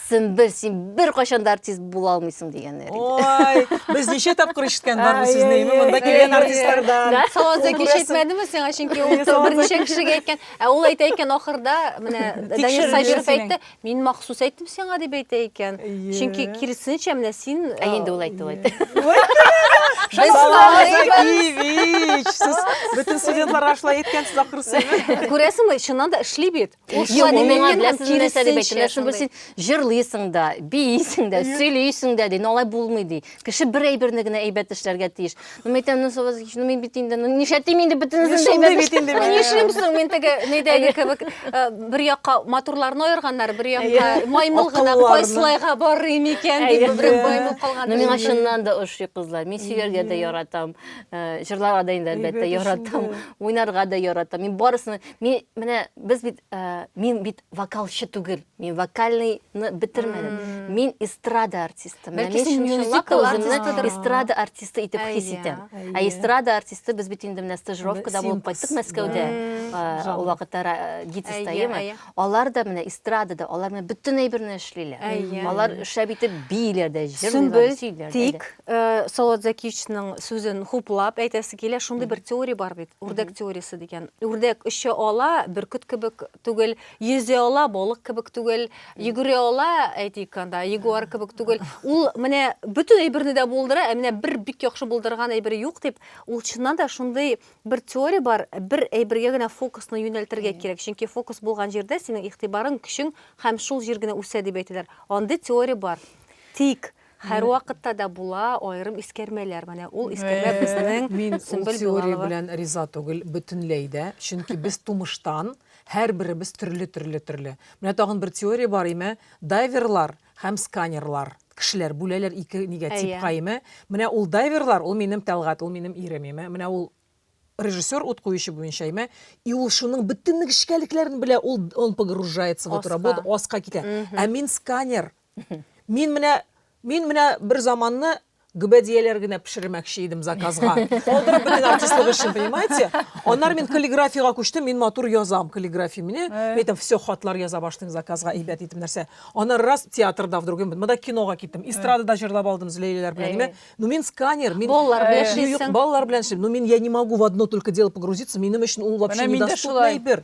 Сөмбел, син беркайчан да артист була алмыйсың дигәннәр инде. Ой, без ничә тапкыр ишеткән бар бу сүзне, әйе, монда әйе, килгән әйе. артистлардан. Да, Салаза кич Күрәсең. әйтмәдеме сиңа, чөнки ул Салаза берничә кич. кешегә әйткән. Ә ул әйтә икән ахырда, менә Данир Тикшерде Сабиров синең. әйтте, мин махсус әйттем сиңа дип әйтә икән. Әйе. Чөнки киресенчә менә син Ә э, инде ул әйтте, ул әйтте. Без Салаза салайбыз. Кивич, сез бөтен студентларга шулай әйткәнсез ахрысы. Күрәсеңме, чыннан да эшли бит. җырлыйсың да биисең дә сөйлисең дә ди алай булмый ди кеше бер әйберне генә әйбәт эшләргә тиеш ну мен әйтәм ну мин бит инде нишләтим инде бөтенесен дә әйбәт эшлим нишлим соң мин теге нидәге кебек бер якка матурларны аерганнар бер якка маймыл гына кайсылайга барыйм икән дип берәү баемып калган миңа чыннан да ошый кызлар мин сөяргә дә яратам җырларга да инде әлбәттә яратам уйнарга да яратам мин барысын Мин менә без бит ә, мин бит вокалчы түгел. Мин вокальныйны бетермәдем. Мин эстрада артисты. Менә Бәлки мин син чынлап мюзикл та үземне артистыдыр. эстрада артисты итеп хис Әйе, итәм. Ә әйе. эстрада артисты без бит инде менә стажировкада Б- булып кайттык синтез. Мәскәүдә. Мм. Ә, Жанр. Ул вакытта ра- ГИТИСта, Әйе, әйеме? әйе. Алар да менә эстрадада, алар менә бөтен әйберне эшлиләр. Әйе. Алар шәп итеп бииләр дә, җырлыйлар, Сөмбел, сөйлиләр. дә, әйдә. тик Э, Салават Закичның сүзен хуплап әйтәсе килә, шундый бер теория бар бит, үрдәк теориясе дигән. Үрдәк оча ала, бөркет кебек түгел, йөзә ала, балык кебек түгел, йөгерә ала, әйтик анда, ягуар кебек түгел. Ул менә бөтен әйберне дә булдыра, ә менә бер бик яхшы булдырган әйбере юк дип, ул чыннан да шундый бер теория бар, бер әйбергә генә фокусны юнәлтергә кирәк, чөнки фокус булган җирдә синең игътибарың, көчең һәм шул җир генә үсә дип әйтәләр. Андый теория бар. Тик Һәрвакытта да була аерым искәрмәләр. Менә ул искәрмә безнең Мин ул Сөмбел теория Билалова. белән риза түгел бөтенләй дә. Чөнки без тумыштан һәрберебез төрле-төрле-төрле. Менә тагын бер теория бар име, дайверлар һәм сканерлар. Кешеләр бүләләр ике нигә, Әйе. типка име. Менә ул дайверлар, ул минем Тәлгать, ул минем ирем име. Менә ул режиссер ут куючы буенча име. И ул шуның бөтен нечкәлекләрен белә, ул он погружается в эту Аска. работу, аска китә. Мгм. Ә мин сканер, Мин менә мин менә бер заманны гөбәдияләр генә пешермәкче идем заказга. Калдырып бөтен артистлык эшен, понимаете? Аннары мин каллиграфиягә күчтем, мин матур язам каллиграфия мине. Мин әйтәм, все, хатлар яза башлыйм заказга, әйбәт итеп нәрсә. Аннары раз театрда вдруг, монда кинога киттем, эстрадада җырлап алдым Зөләйләләр белән, ниме. Ну мин сканер, мин Балалар белән эшлисең. Балалар белән эшлим. Ну мин я не могу в одно только дело погрузиться, минем өчен ул вообще недоступный әйбер.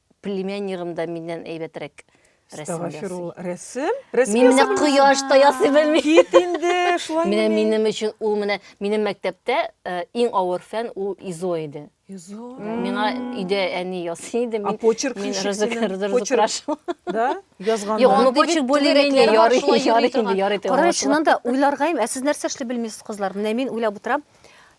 Племяннигым да миннән әйбәтрәк рәсем ясый. Рәсем? Рәсем Мин менә кояш та ясый белмим. Кит инде, шулай. Менә минем өчен ул менә минем мәктәптә э, иң авыр фән ул изо иде. Изо. Миңа өйдә әни ясый иде. Мин, а почерк мин рызык, рызык, почерк. Да? Язганда. Юк, аны почерк более-менее ярый, ярый инде, ярый. Кара, чыннан да уйларгайым, ә сез нәрсә эшли белмисез, кызлар? Менә мин уйлап утырам.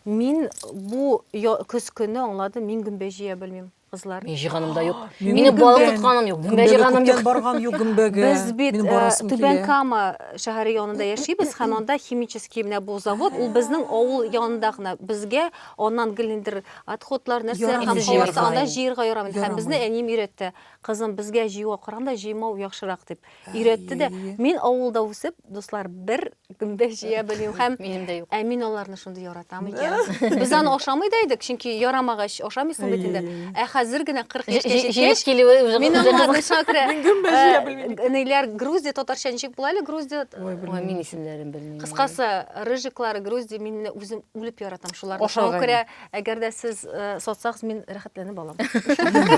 Мин бу көз көне аңладым, мин гөмбә җыя белмим. Кызлар. Мин җыганым да юк. Мине балык тотканым юк. Гөмбә җыганым юк. Барган юк гөмбәгә. Без бит э, Түбән Кама шәһәре янында яшибез һәм анда химический менә бу завод, ул безнең авыл янында гына. Безгә аннан гел ниндер отходлар нәрсә һәм җыярга анда җыярга ярамый. Һәм безне әнием өйрәтте. Кызым, безгә җыюга караганда җыймау яхшырак дип. өйрәтте дә. Мин авылда үсеп, дуслар, бер гөмбә җыя белмим һәм минем дә юк. Ә мин аларны шундый яратам икән. Без аны ашамый да идек, чөнки ярамагач ашамыйсың бит инде. Ә хәзер генә 40 яшькә җиткәч, килүе уже мин аңладым шакра. Мин гөмбә җыя белмим. Ниләр Грузия татарча ничек була әле Грузия? Ой, мин исемнәрен белмим. Кыскасы, рыжиклар, Грузия, мин үзем үлеп яратам шуларны. Ашау керә. Әгәр дә сез сатсагыз, мин рәхәтләнеп алам.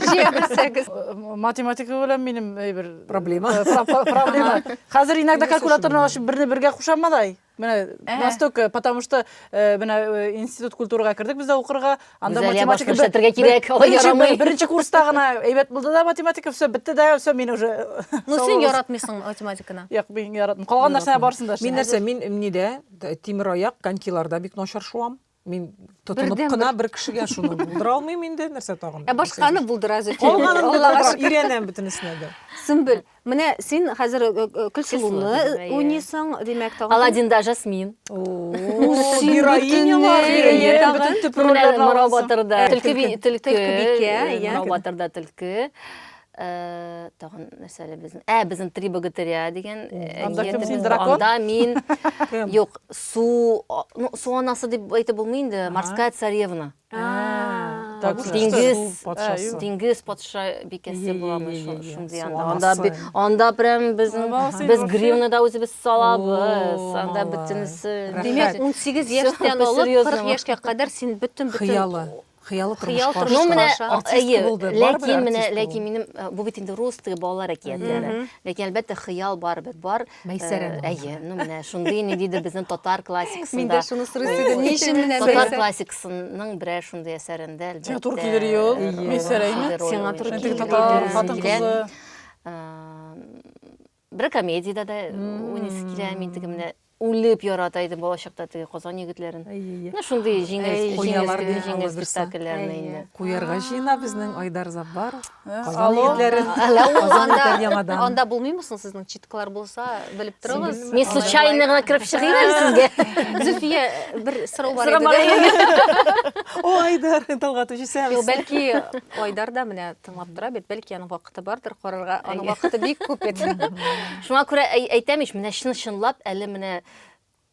Җиңелсәгез. Математика белән минем әйбер проблема. Проблема. Хәзер иногда калькуляторны ачып берне бергә кушамы да? Менә настолько, потому что менә институт культурага кердек без дә укырга, анда математика күрсәтергә кирәк, алай ярамый. Беренче курста гына әйбәт булды да математика, все, бетте дә, все, мин уже. Ну син яратмыйсың математиканы. Юк, мин яратмыйм. Калган нәрсә барсын да. Мин нәрсә, мин нидә, тимер аяк, конькиларда бик начар шуам. Мин тотынып кына бер кешегә шуны булдыра алмыйм инде, нәрсә тагын? Ә башканы булдыра зөт. Калганын булдыра, өйрәнәм бөтенесенә дә. Сөмбел, менә син хәзер э, э, э, Көлсылуны уйныйсың, димәк, тагын. Аладдинда Жасмин. Героиня бар, бөтен төп рольләрне Морабатырда. Төлке бикә, Морабатырда төлке. Э, тагын нәрсә әле безнең ә безнең три богатыря дигән э, анда кем син дракон анда мин юк су ну су анасы дип әйтеп булмый инде морская царевна диңгез диңгез патша бикәсе буламы шундый анда анда прям безнең без гривны да үзебез салабыз анда бөтенесе димәк унсигез яшьтән алып кырык яшькә кадәр син бөтен бөтен Хыялы тормышка аша. Ну менә әйе, ләкин менә ләкин минем э, бу бит инде рус теге балалар әкиятләре. Ләкин әлбәттә хыял бар бит, бар. Мәйсәрә. Э, әйе, ну менә шундый ни диде безнең татар классикасында. Мин дә шуны сорыйсы идем, ни өчен менә татар классикасының берәр шундый әсәрендә әлбәттә. Сиңа туры килер юл. Мәйсәрәме? Сиңа туры килер. Татар хатын кызы. Э, Бер комедиядә дә уйныйсы килә. Мин теге менә үлеп ярата идем балачакта теге Казан егетләрен. Менә шундый җиңел, җиңел, җиңел спектакльләрне инде. Куярга җыена безнең Айдар Заббар. Казан егетләрен. Казан егетләр яңадан. Анда булмыймы соң сезнең читкалар булса, белеп торыгыз. Мин случайно гына кереп чыгыйм әле сезгә. Зөлфия, бер сорау бар иде. О, Айдар, Талгат үҗисәбез. Бәлки Айдар да менә тыңлап тора бит, бәлки аның вакыты бардыр карарга. Аның вакыты бик күп бит. Шуңа күрә әйтәм ич, менә чын-чынлап әле менә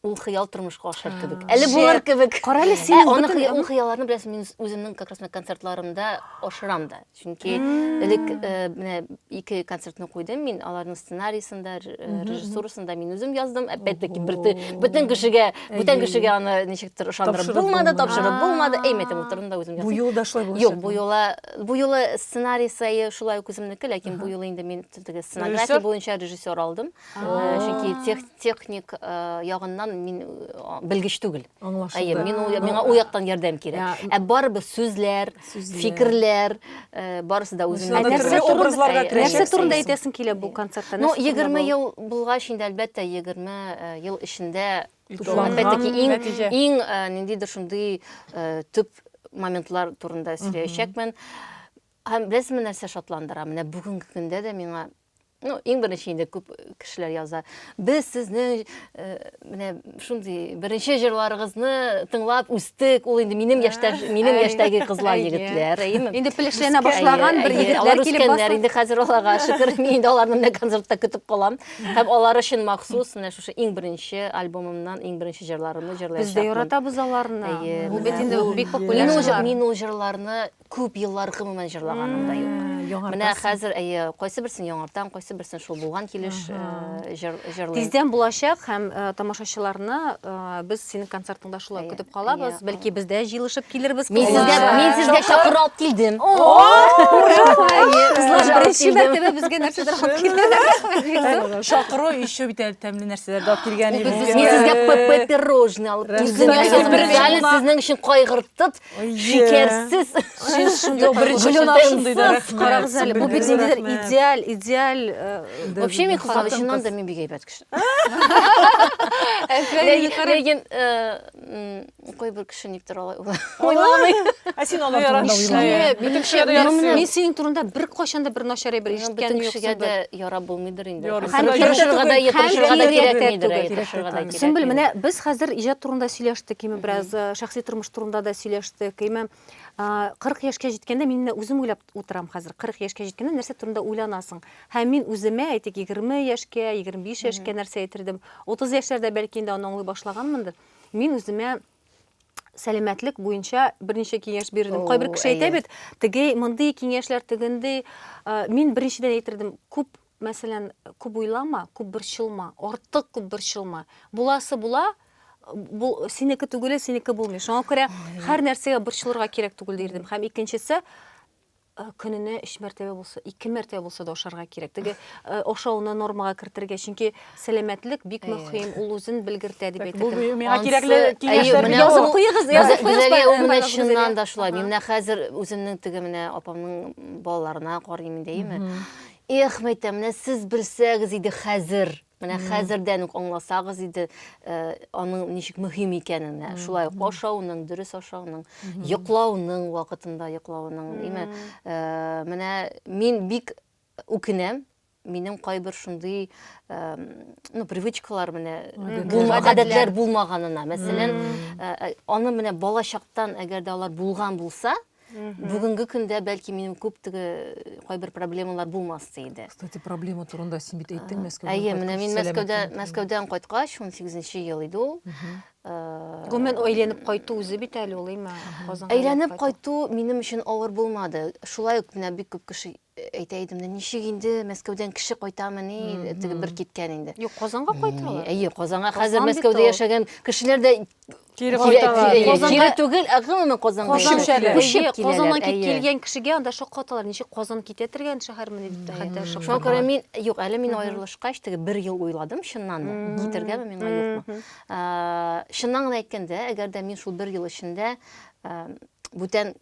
ул хыял тормышка ашар кебек. Әле булыр кебек. Кара әле син. Ә, аны ул хыялларны беләсең, мин үземнең как раз концертларымда ашырам да. Чөнки элек э, менә ике концертны куйдым мин, аларның сценариясен дә, э, режиссурасын да мин үзем яздым. Опять-таки бөтен кешегә, бүтән кешегә аны ничектер ышандырып булмады, тапшырып булмады. Әймәтем утырдым да үзем яздым. Бу юлы да шулай булачак. Юк, бу юлы Бу юлы сценарий сае шулай ук үземнеке, ләкин бу юлы инде мин теге сценография буенча режиссер алдым. Чөнки тех, техник э, ягыннан мин э, белгеч түгел. Аңлашылды. Әйе, мин ул- миңа ул яктан ярдәм кирәк. Ә барыбер сүзләр, Сүзләр. фикерләр, э, барысы да үземнең. Анда Нәрсә төрле турында- образларга Әйе. керәчәк. Нәрсә турында әйтәсең килә бу концертта? Ну, Нәрсә турында 20 бу? ел булгач инде әлбәттә 20 э, ел эчендә Иң ниндидер шундый төп моментлар турында сөйләячәкмен. Һәм беләсезме нәрсә шатландыра? Менә бүгенге көндә дә миңа Ну, иң беренче инде күп кешеләр яза. Без сезнең менә шундый беренче җырларыгызны тыңлап үстек. Ул инде минем яшьтә, минем яшьтәге кызлар, егетләр. Инде пелешләнә башлаган бер егетләр килеп басты. Инде хәзер аларга шөкер, мин инде аларны менә концертта көтеп калам. Һәм алар өчен махсус менә шушы иң беренче альбомымнан иң беренче җырларымны җырлаячакмын. Без дә яратабыз аларны. Бу бит инде бик популяр җырлар. Мин ул җырларны күп еллар гомумән җырлаганым да юк. Менә хәзер, әйе, кайсы берсен яңартам, кайсы берсен шул булган килеш җырлыйм. Тиздән булачак һәм тамашачыларны без синең концерт Аңлашыла Әйе, көтеп калабыз. әйе, Бәлки без дә җыелышып килербез. Мин кызлар. сезгә, мин сезгә чакыру алып килдем. Кызлар беренче мәртәбә безгә нәрсәдер алып килдегез. Чакыру еще бит әле тәмле нәрсәләрдә алып килгән Мин сезгә п- п- пирожный алып килдем. Рәхмәт. Ясадым. Бер Әле җылма. сезнең өчен кайгыртып, шикәрсез карагыз әле бу бит ниндидер идеаль идеаль вообще мин кызлар чыннан да мин бик әйбәт кеше ләкин кой бер кеше никтер алай уйламый ә син алар турында уйламый мин синең турында беркайчан да бер начар әйбер ишеткәнем юк кешегә дә ярап булмыйдыр Сөмбел, менә без хәзер иҗат турында сөйләштек, име бераз э, шәхси тормыш турында да сөйләштек, име 40 яшькә җиткәндә мин үзем уйлап утырам хәзер. 40 яшькә җиткәндә нәрсә турында уйланасың? Һәм мин үземә, әйтик, 20 яшькә, 25 яшькә нәрсә әйтердем? 30 яшьләрдә бәлки инде аны аңлый башлаганмындыр. Мин үземә сәламәтлек буенча берничә киңәш бирдем. О, Кайбер кеше әйтә бит, теге мондый киңәшләр тегендей. Мин беренчедән әйтердем, күп, мәсәлән, күп уйлама, күп борчылма, артык күп борчылма. Буласы була, бу синеке түгеле, синеке булмый. Шуңа күрә һәр нәрсәгә борчылырга кирәк түгел дирдем. Һәм икенчесе, Э, көненә өч мәртәбә булса ике мәртәбә булса да ашарга кирәк теге э, ашауны нормага кертергә чөнки сәламәтлек бик мөһим ул үзен белгертә дип әйтә бу миңа кирәкле киңәшләрне язып куегыз язып куегыз чыннан да шулай мин менә хәзер үземнең теге менә апамның балаларына карыйм инде әйеме эх мәйтәм менә сез белсәгез иде хәзер Менә хәзердән үк аңласагыз иде, э, аның ничек мөһим икәнен. Ә, Шулай ук ашауның, дөрес ашауның, йоклауның вакытында йоклауның, димме? Э, Менә мин бик үкенәм, минем кайбер шундый ну привычкалар менә булмаган гадәтләр булмаганына мәсәлән аны менә балачактан әгәр дә алар булган булса бүгенге көндә бәлки минем күп теге кайбер проблемалар булмас иде кстати проблема турында син бит әйттең мәскәүдән әйе менә мин мәскәүдә мәскәүдән кайткач ун сигезенче ел иде ул гомумән әйләнеп кайту үзе бит әле ул әйме әйләнеп кайту минем өчен авыр булмады шулай ук менә бик күп кеше әйтә идем дә ничек инде мәскәүдән кеше кайтамыни теге бер киткән инде юк казанга кайталар әйе казанга хәзер мәскәүдә яшәгән кешеләр дә кире кире түгел ә гомумән казанга казаннан килгән кешегә анда шаккаталар ничек казан китә торган шәһәрмени дип хәтта шуңа күрә мин юк әле мин аерылышкач теге бер ел уйладым чыннан да китергәме миңа юкмы чыннан гына әйткәндә әгәр дә мин шул бер ел эчендә бүтән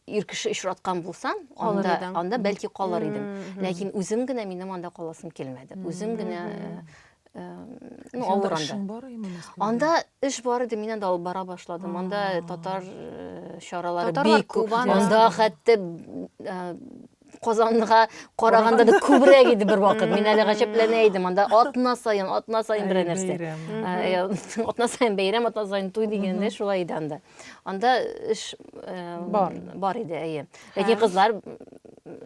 ир кеше очраткан булсам, анда, анда бәлки калыр идем. Ләкин үзем генә минем анда каласым килмәде. Үзем генә ну, авыр анда. Анда эш бар иде, мин анда алып бара башладым. Анда татар чаралары бик күп. Анда хәтта Казанга караганда да күбрәк иде бер вакыт. Мин әле гаҗәпләнә идем. Анда атна саен, атна саен бер нәрсә. Атна саен бәйрәм, атна саен туй дигәндә шулай иде анда. Анда эш бар. Бар иде, әйе. Ләкин кызлар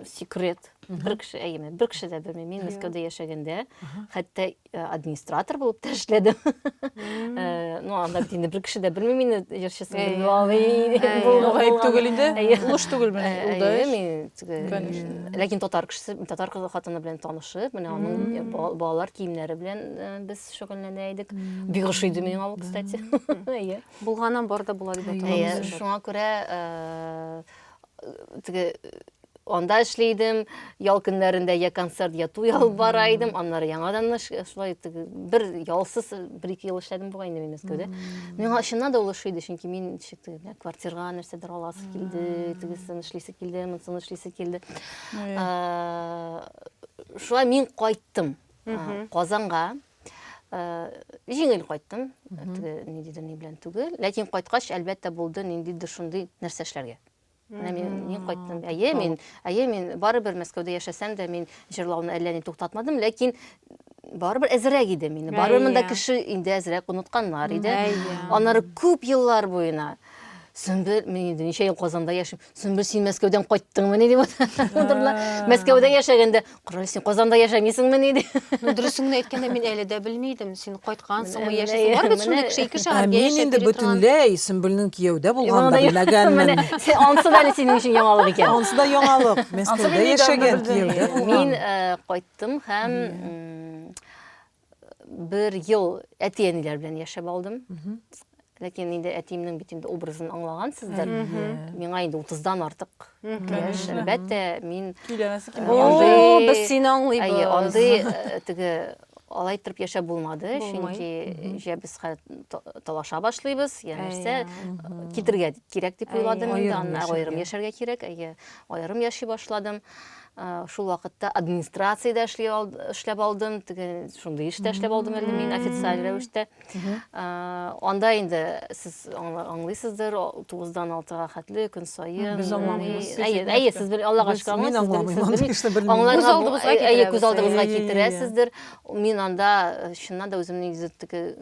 секрет. Бер кеше, әйе, бер кеше дә белми. Мин Мәскәүдә яшәгәндә, хәтта Э, администратор болып та эшләдем э, ну анда бит инде бер кеше дә белми мине җырчысын белми алый бул гаеп түгел инде өлеш түгел менә ул ләкин татар кешесе татар кызы хатыны белән танышып менә аның э, балалар киемнәре белән без шөгыльләнә идек бик ошый иде миңа ул кстати әйе булганнан бар да була дип әйтә шуңа күрә теге анда эшли идем ял көннәрендә я концерт я туй алып бара идем аннары яңадан шулай бер ялсыз бер ике ел эшләдем бугай инде мин мәскәүдә миңа чыннан да ул ошый иде чөнки мин ничек квартирага нәрсәдер аласы килде тегесен эшлисе килде монысын эшлисе килде шулай мин кайттым казанга җиңел кайттым теге ниндидер ни белән түгел ләкин кайткач әлбәттә булды ниндидер шундый нәрсә эшләргә Менә мин, мин кайттым. Әйе, мин, әйе, мин барыбер Мәскәүдә яшәсәм дә, мин җырлауны әллә ни туктатмадым, ләкин барыбер әзрәк иде мин. Барыбер монда кеше инде әзрәк онытканнар иде. Аннары күп еллар буена Сөмбел, мин инде ничә ел Казанда яшим. Сөмбел, син Мәскәүдән кайттыңмыни дип утырдылар. Мәскәүдә яшәгәндә Коры, син Казанда яшәмисеңмени? ди. Ну, дөресен генә әйткәндә, мин әле дә белми идем. Син кайткансыңмы, Менә, яшисең. менә, Бар бит шундый менә. кеше, ике Ә шәһәргә мин яшәп инде йөри торган. бөтенләй Сөмбелнең кияүдә булганын да белмәгәнмен. Менә, сен- ансы да әле синең өчен яңалык икән. Ансы да яңалык. Мәскәүдә мин яшәгән, недавно кияүдә белдем. булган. Мин э, кайттым һәм м, бер ел әти-әниләр белән яшәп алдым. Ләкин инде әтиемнең бит инде образын аңлагансыздыр. Миңа инде 30-дан артык яшь. Әлбәттә, мин О, без сине аңлыйбыз. Әйе, андый э, теге алай торып яшәп булмады, чөнки җә без талаша башлыйбыз, я нәрсә китергә кирәк дип уйладым инде, аннан аерым яшәргә кирәк, әйе, аерым яши башладым. Шул вакытта администрациядә эшли эшләп алдым, теге шундый эштә эшләп алдым әле мин официаль рәвештә. Анда инде сез аңлыйсыздыр, 9-дан 6-га хәтле көн саен. Без аңламыйбыз. Әйе, әйе, сез бер Аллага шөкер аңлыйсыз. Мин аңламыйм. Аңларга күз алдыгызга китерәсездер. Мин анда чыннан да үземне теге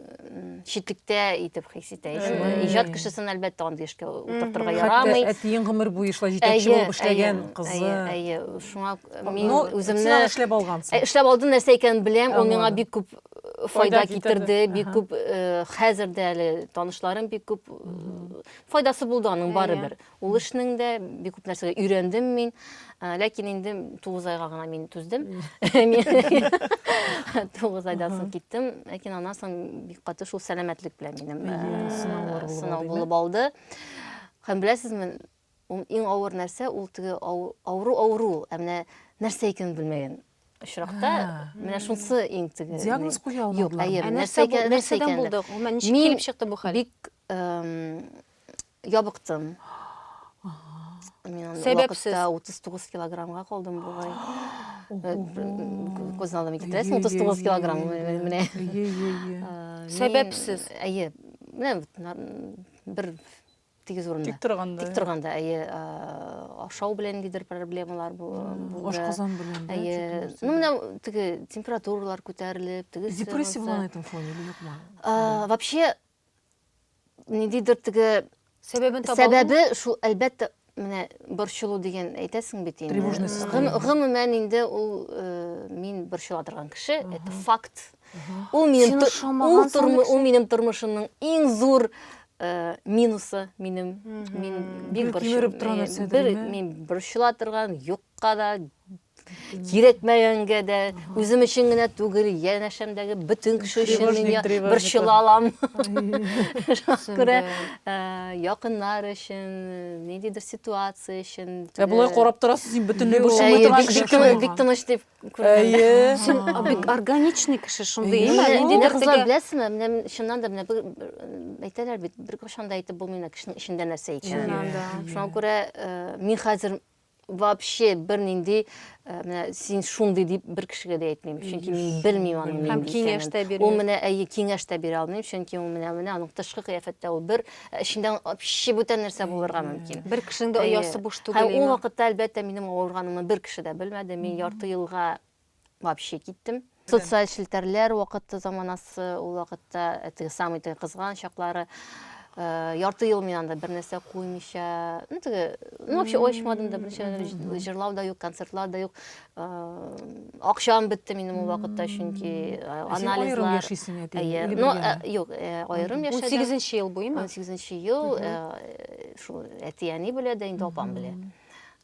читлектә итеп хис итә идем. Иҗат кешесен әлбәттә андый эшкә утыртырга ярамый. Хәтта әтиең гомер буе шулай җитәкче булып эшләгән кызы. Әйе, әйе. Шуңа мин үземне эшләп алгансың. Эшләп алдым, нәрсә икәнен беләм, ул миңа бик күп файда китерде, бик күп хәзер дә әле танышларым бик күп файдасы булды аның барыбер. Ул эшнең дә бик күп нәрсәгә өйрәндем мин. Ә, Ләкин инде 9 айга гына мин түздем. Мин 9 айдан соң киттем. Ләкин аннан соң бик каты шул сәламәтлек белән минем ә, Әйе, сынаулар булып сынау алдыйме? булып алды. Һәм беләсезме, ул иң авыр нәрсә ул теге ау- авыру авыру, ул. ә менә нәрсә икәнен белмәгән очракта, А. менә шунысы иң теге. Диагноз куя Юк, алмадылар. әйе, Ә нәрсә нәрсә икән, нәрсә нәрсәдән икәнен. булды? Гомумән, ничек Мин килеп чыкты бу хәл? Бик эм, Ябыктым. Мин Сәбәпсез. вакытта 39 килограммга калдым бугай. Күз алдыма китерәсең, 39 килограмм менә. Сәбәпсез. Әйе. Менә бер тигез урында. Тик торганда. Тик торганда, әйе, ашау белән гидер проблемалар булды. Ашказан белән. Әйе. Ну, менә теге температуралар күтәрелеп, теге. Депрессия булган итем фоне юкмы? Вообще ниндидер теге сәбәбен таба сәбәбе шул әлбәттә менә борчылу дигән әйтәсең бит инде тревожность гомумән инде ул э, мин борчыла торган кеше это факт ул минем ул минем тормышымның иң зур э, минусы минем мин бик борчыла торган нәрсә бер мин борчыла торган юк Ка да, кирәкмәгәнгә дә, үзем өчен генә түгел, янәшәмдәге бөтен кеше өчен мин я- Тревожник, борчыла алам. Шуңа күрә ә, якыннар өчен, ниндидер ситуация өчен. Ә болай карап торасыз, син бөтенләй Юк. борчылмый Әйе, торган бик, кеше бик, шул. тыныч- бик тыныч дип күренәм. Әйе. Син а, бик органичный кеше шундый, Әйе. әйе. Менә, Нинди менә бер кызлар, теге- беләсезме, менә мин чыннан да менә бер, бер, м, әйтәләр бит, беркайчан да әйтеп булмый менә кешенең эчендә нәрсә икәнен. Чыннан да. Шуңа күрә э, мин хәзер вообще бернинди э, менә син шундый дип бер кешегә дә әйтмим чөнки мин белмим аның һәм киңәш тә бирмим ул менә әйе киңәш тә бирә алмыйм чөнки ул менә менә аның тышкы кыяфәттә ул бер э, эчендә вообще бүтән нәрсә булырга мөмкин бер кешенең дә оясы буш түгел һәм ул вакытта әлбәттә минем авырганыма бер кеше дә белмәде мин ярты елга вообще киттем. Социаль челтәрләр вакыты заманасы, ул вакытта теге самый теге кызган чаклары. Э, ярты ел мин анда бер нәрсә куймыйча, ну теге, ну вообще очмадым да, берничә җырлау да юк, концертлар да юк. Э, акчам бетте минем ул вакытта, чөнки э, анализлар. Әйе, ну юк, аерым яшәдем. 18 ел буймы? 18 ел, шул әти-әни белә дә, инде апам белә.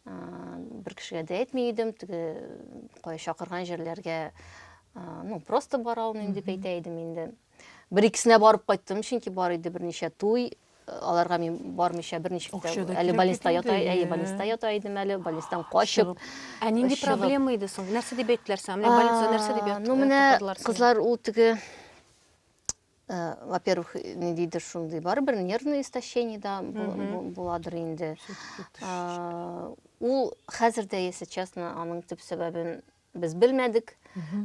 бер кешегә дә әйтми идем теге кая чакырган җирләргә ну просто бара алмыйм дип әйтә идем инде бер икесенә барып кайттым чөнки бар иде берничә туй аларга мин бармыйча берничә әле больниста ята әйе больниста ята идем әле больнистан качып ә нинди проблема иде соң нәрсә дип әйттеләр сиңа менә больница нәрсә дип ну менә кызлар ул теге Э, во-первых, не дейді шундый барыбер нервный истощение да буладыр инде. Э, ул хәзер дә, если честно, аның төп сәбәбен без белмәдек.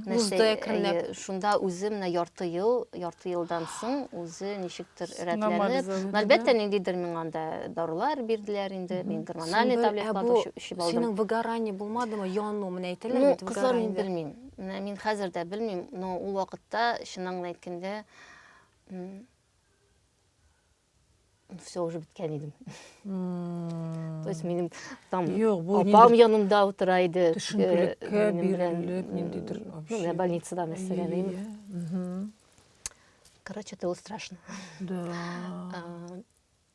Нәрсә шунда үзе менә ярты ел, ярты елдан соң үзе ничектер рәтләнеп, әлбәттә ниндидер миңа анда дарулар бирделәр инде, мин гормональный таблеткалар эчеп алдым. Синең выгорание булмадымы? Яну, менә әйтәләр бит, выгорание. Ну, кызлар мин белмим. Менә мин хәзер дә белмим, но ул вакытта, чыннан гына әйткәндә, все уже беткән идем. То есть минем там апам янымда утыра иде. Төшенкелеккә бирелеп, ниндидер вообще. Ну, больницада мәсәлән. Короче, это было страшно. Да.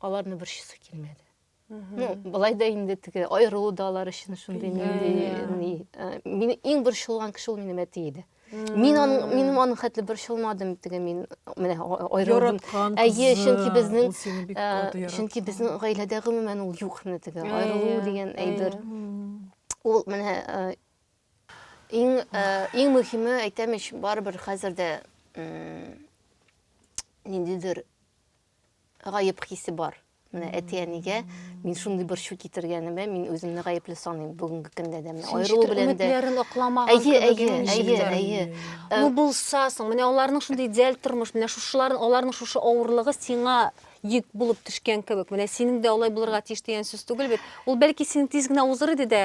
аларны борчысы килмәде ну былай да инде теге аерылу да алар өчен шундый нинди мин иң борчылган кеше ул минем әти иде мин аның минем аның хәтле борчылмадым теге мин менә аерылдым әйе чөнки безнең чөнки безнең гаиләдә гомумән ул юк менә теге аерылу дигән әйбер ул менә иң иң мөһиме әйтәм ич барыбер хәзер дә ниндидер гаеп хисе бар. Менә әти-әнигә мин шундый борчу китергәнемә мин үземне гаепле саныйм бүгенге көндә дә. Менә аерылу белән дә. Өметләрен акламаган. Әйе, әйе, әйе, әйе. Ну э, булса соң, менә аларның шундый идеаль тормыш, менә шушылар, аларның шушы авырлыгы сиңа йөк булып төшкән кебек. Менә синең дә алай булырга тиеш дигән сүз түгел бит. Ул бәлки синең тиз генә узыр иде дә,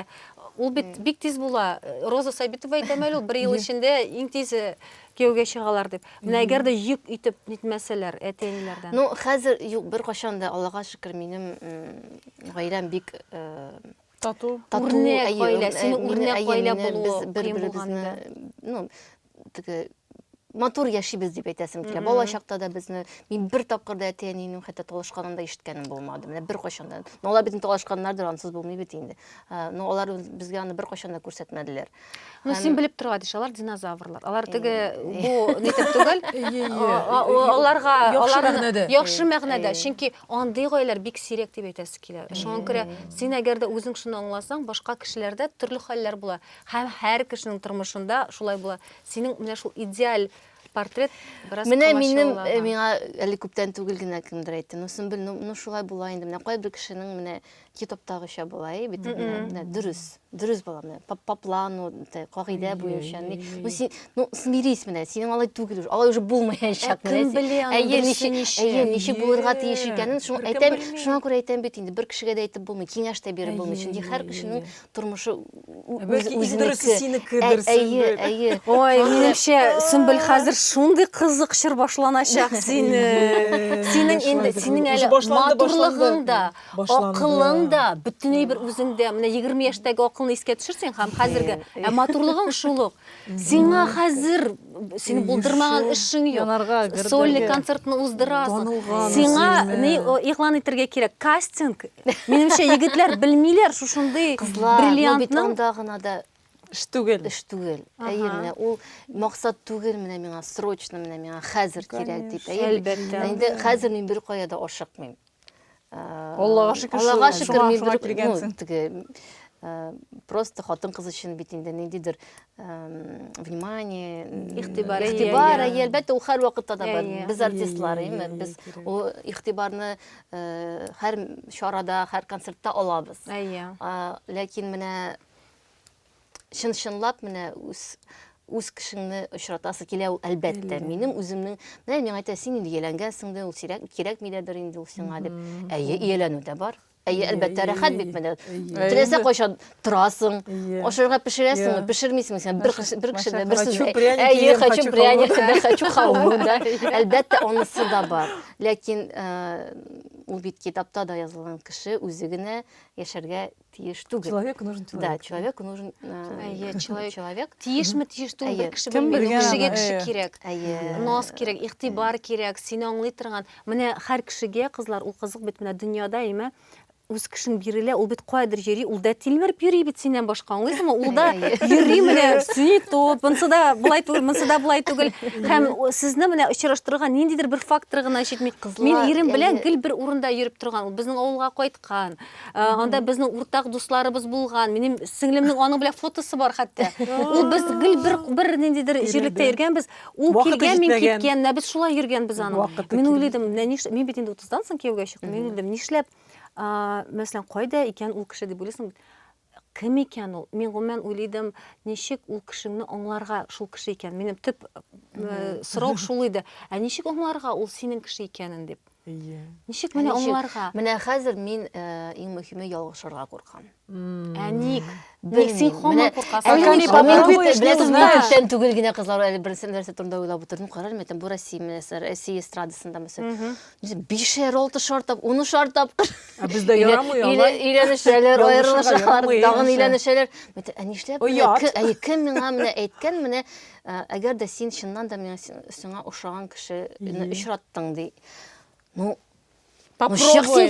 ул бит бик тиз була. Роза Сабитова әйтәме әле ул бер ел эчендә иң тиз э, Кияүгә чыгалар дип. Менә әгәр дә йөк итеп нитмәсәләр әти-әниләрдән. Ну, хәзер юк, беркайчан да, Аллага шөкер, минем гаиләм бик тату, үрнәк гаилә, синең үрнәк гаилә булуы кыен булганда. Ну, теге матур яшибез дип әйтәсем килә. Бала чакта да безне мин бер тапкыр да әти-әнинең хәтта талашканын да ишеткәнем булмады. Менә беркайчан да. Ну, алар безнең талашканнардыр, ансыз булмый бит инде. Ну, алар безгә аны беркайчан да күрсәтмәделәр. Ну, һәм... син белеп торган еш, алар динозаврлар. Алар теге бу нитеп түгел. Аларга аларны яхшы мәгънәдә, чөнки андый гаиләләр бик сирәк дип әйтәсе килә. Шуңа күрә син әгәр дә үзең шуны аңласаң, башка кешеләрдә төрле хәлләр була. Һәм һәр кешенең тормышында шулай була. Синең менә шул идеаль портрет бераз Менә минем э, миңа әле күптән түгел генә кемдер әйтте. Ну, Сөмбел, ну, ну шулай була инде. Менә кайбер кешенең менә китаптагыча була, әй бит, дөрес, дөрес була менә, по, по плану, кагыйдә буенча. Ну, син, ну, смирись менә, синең алай түгел, алай уже булмаячак. Ә кем белә аны дөресе ничек? Әйе, ничек булырга тиеш икәнен, шуңа әйтәм, шуңа күрә әйтәм бит инде, бер кешегә дә әйтеп булмый, киңәш тә биреп булмый, чөнки һәр кешенең тормышы үзенеке. синеке дөресе. Әйе, әйе. Ой, минемчә, Сөмбел хәзер шундый кызык чор башланачак синең. Синең инде, синең әле матурлыгың да, башланды. Акылың да бөтенләй бер үзеңдә, менә 20 яшьтәге акылны искә төшерсәң һәм хәзерге ә матурлыгың шул ук. Сиңа хәзер сине булдырмаган эшең юк. Сольный концертны уздырасың. Сиңа ни игълан итәргә кирәк? Кастинг. Минемчә, егетләр белмиләр шушындый бриллиантның. Кызлар, гына да эш түгел. Эш түгел. Әйе, менә ул максат түгел менә миңа срочно менә миңа хәзер кирәк дип. Әлбәттә. Инде хәзер мин бер кая да ашыкмыйм. Аллага шөкер, Аллага шөкер, мин бер килгәнсең. Просто хатын кыз өчен бит инде ниндидер внимание, игътибар, игътибар, әлбәттә, ул һәр вакытта да бар. Без артистлар, әйме, без ул игътибарны һәр чарада, һәр концертта алабыз. Әйе. Ләкин менә чын-чынлап менә үз үз кешеңне очратасы килә ул әлбәттә минем үземнең менә миңа әйтә син инде ияләнгәнсең дә ул сирәк кирәкми дә бер инде ул сиңа дип әйе ияләнү дә бар Әйе, әлбәттә, рәхәт бит менә. Теләсә кайчан торасың, ашарга пешерәсеңме, пешермисеңме син? Бер кеше, бер кеше дә берсен. Әйе, хочу пряник, да, хочу халву, да. Әлбәттә, онысы да бар. Ләкин ул бит китапта да язылган кеше үзе генә яшәргә тиеш түгел. Человек нужен человек. Да, человек нужен э, человек. человек. Тиешме, тиеш түгел, бер кеше белмәгән кешегә кеше кирәк. Нос кирәк, игътибар кирәк, сине аңлый торган. Менә һәр кешегә кызлар ул кызык бит менә дөньяда, әйме? үз кешең бирелә, ул бит кайдыр йөри, ул да тилмереп йөри бит синнән башка, аңлыйсыңмы? Ул да йөри менә, сине топ, монсы да былай түгел, монсы да былай түгел. Һәм сезне менә очраштырган ниндидер бер фактор гына җитми. Мин ирем белән гел бер урында йөреп торган. Безнең авылга кайт, Кан. Э, Анда безнең уртак дусларыбыз булган. Минем сеңлемнең аның белән фотосы бар хәтта. Ул без гел бер бер ниндидер җирлектә йөргәнбез. Ул Вакыты килгән, мин җитмәгән. киткән. Менә без шулай йөргәнбез аның. Вакыты Мин килми. уйлыйдым, менә ниш... мин бит инде 30-дан соң кияүгә чыктым. Мин уйлыйдым, нишләп, а, мәсәлән, кайда икән ул кеше дип уйлыйсың бит. Кем икән ул? Мин гомумән уйлыйдым, ничек ул кешеңне аңларга, шул кеше икән. Минем төп сорау шул иде. Ә ничек аңларга ул синең кеше икәнен дип? Әйе. Ничек менә аңларга? Менә хәзер мин иң мөһиме ялгышырга куркам. Ә ник? Белмим. Менә күптән түгел генә кызлар әле берсе нәрсә турында уйлап утырдым. Карармын икән, бу Россия, Россия эстрадасында мәсәлән. Без бишәр, алтышар тап, унышар тапкыр. Ә бездә ярамый алай. Өйләнешәләр, аерылышалар, тагын өйләнешәләр. Ә нишләп? Әйе, кем миңа менә әйткән, менә әгәр дә син чыннан да миңа сиңа ошаган кешене очраттың ди. Ну, Попробуй.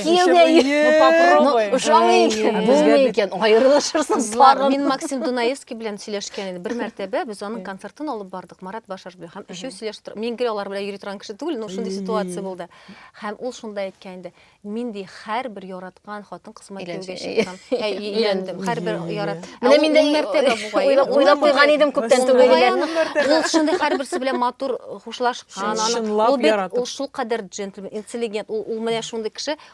Ошамый икән, булмый икән, аерылышырсың. Мин Максим Дунаевский белән сөйләшкән идем. Бер мәртәбә без аның концертын алып бардык. Марат Башарбиев һәм өчәү сөйләшеп тора. Мин гел алар белән йөри торган кеше түгел, но шундый ситуация булды. Һәм ул шунда әйткән инде, мин ди һәрбер яраткан хатын кызыма кияүгә чыктым. Ә өйләндем. Һәрбер ярат. Менә мин дә мәртәбә бугай. Уйлап куйган идем күптән түгел. Ул шундый һәрберсе белән матур хушлашкан. Ул бит ул шул кадәр джентльмен, интеллигент. Ул менә шундый кеше,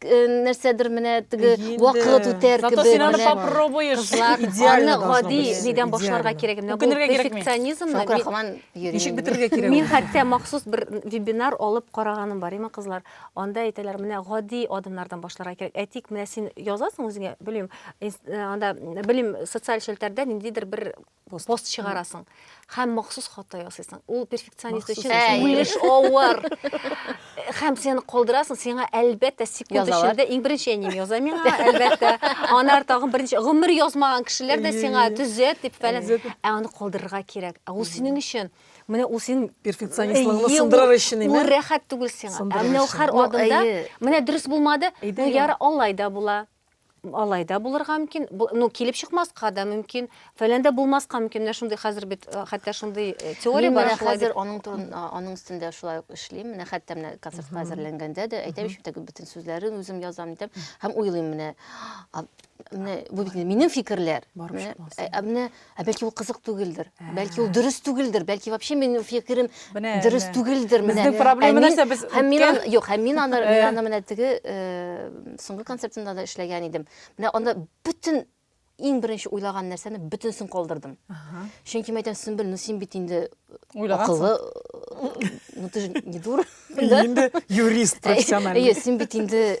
э, нәрсәдер менә теге Инде. вакыт үтәр Зато кебек син аны менә попробуешь. кызлар Идеально аны должно гади быть, нидән башларга идеально. кирәк менә бу Үкенергә кирәкми. перфекционизмны Шакыр мин- хаман йөри. Ничек бетерергә кирәк? мин ул? хәтта махсус бер вебинар алып караганым бар имә кызлар анда әйтәләр менә гади адымнардан башларга кирәк ә тик менә син язасың үзеңә белмим инс- э, анда белмим социаль челтәрдә ниндидер бер пост чыгарасың һәм махсус хата ясыйсың ул перфекционист өчен үлеш авыр һәм сені калдырасың сиңа әлбәттә секунд эчендә иң беренче әнием яза миңа әлбәттә анар тагын беренче гомер язмаган кешеләр дә сиңа төзәт дип фәлән ә аны калдырырга кирәк ә ул синең өчен менә ул син перфекционистлыгыңны сындырыр өчен ул рәхәт түгел сиңа ә менә ул һәр адымда менә дөрес булмады яра алай да була Алай да булырга мөмкин, ну килеп чыкмаска да мөмкин, фәләндә булмаска мөмкин. Менә шундый хәзер бит э, хәтта шундый э, теория бар. Мин хәзер аның турын аның өстендә шулай ук эшлим. Менә хәтта менә концертка әзерләнгәндә дә әйтәм ич бит бөтен сүзләрен үзем язам итеп һәм уйлыйм менә. Менә бу бит минем фикерләр. Менә э, Ә бәлки ул кызык түгелдер. Бәлки ул дөрес түгелдер. Бәлки вообще минем фикерем дөрес түгелдер. Безнең проблема нәрсә без? Һәм мин аны, юк, һәм мин аны, мин аны менә теге соңгы концертында да эшләгән идем. Менә анда бөтен иң беренче уйлаган нәрсәне бөтенсен калдырдым. Чөнки мәйтәм Сөмбел, ну син бит инде акыллы, ну ты же не дура. Инде юрист профессиональный. Әйе, син бит инде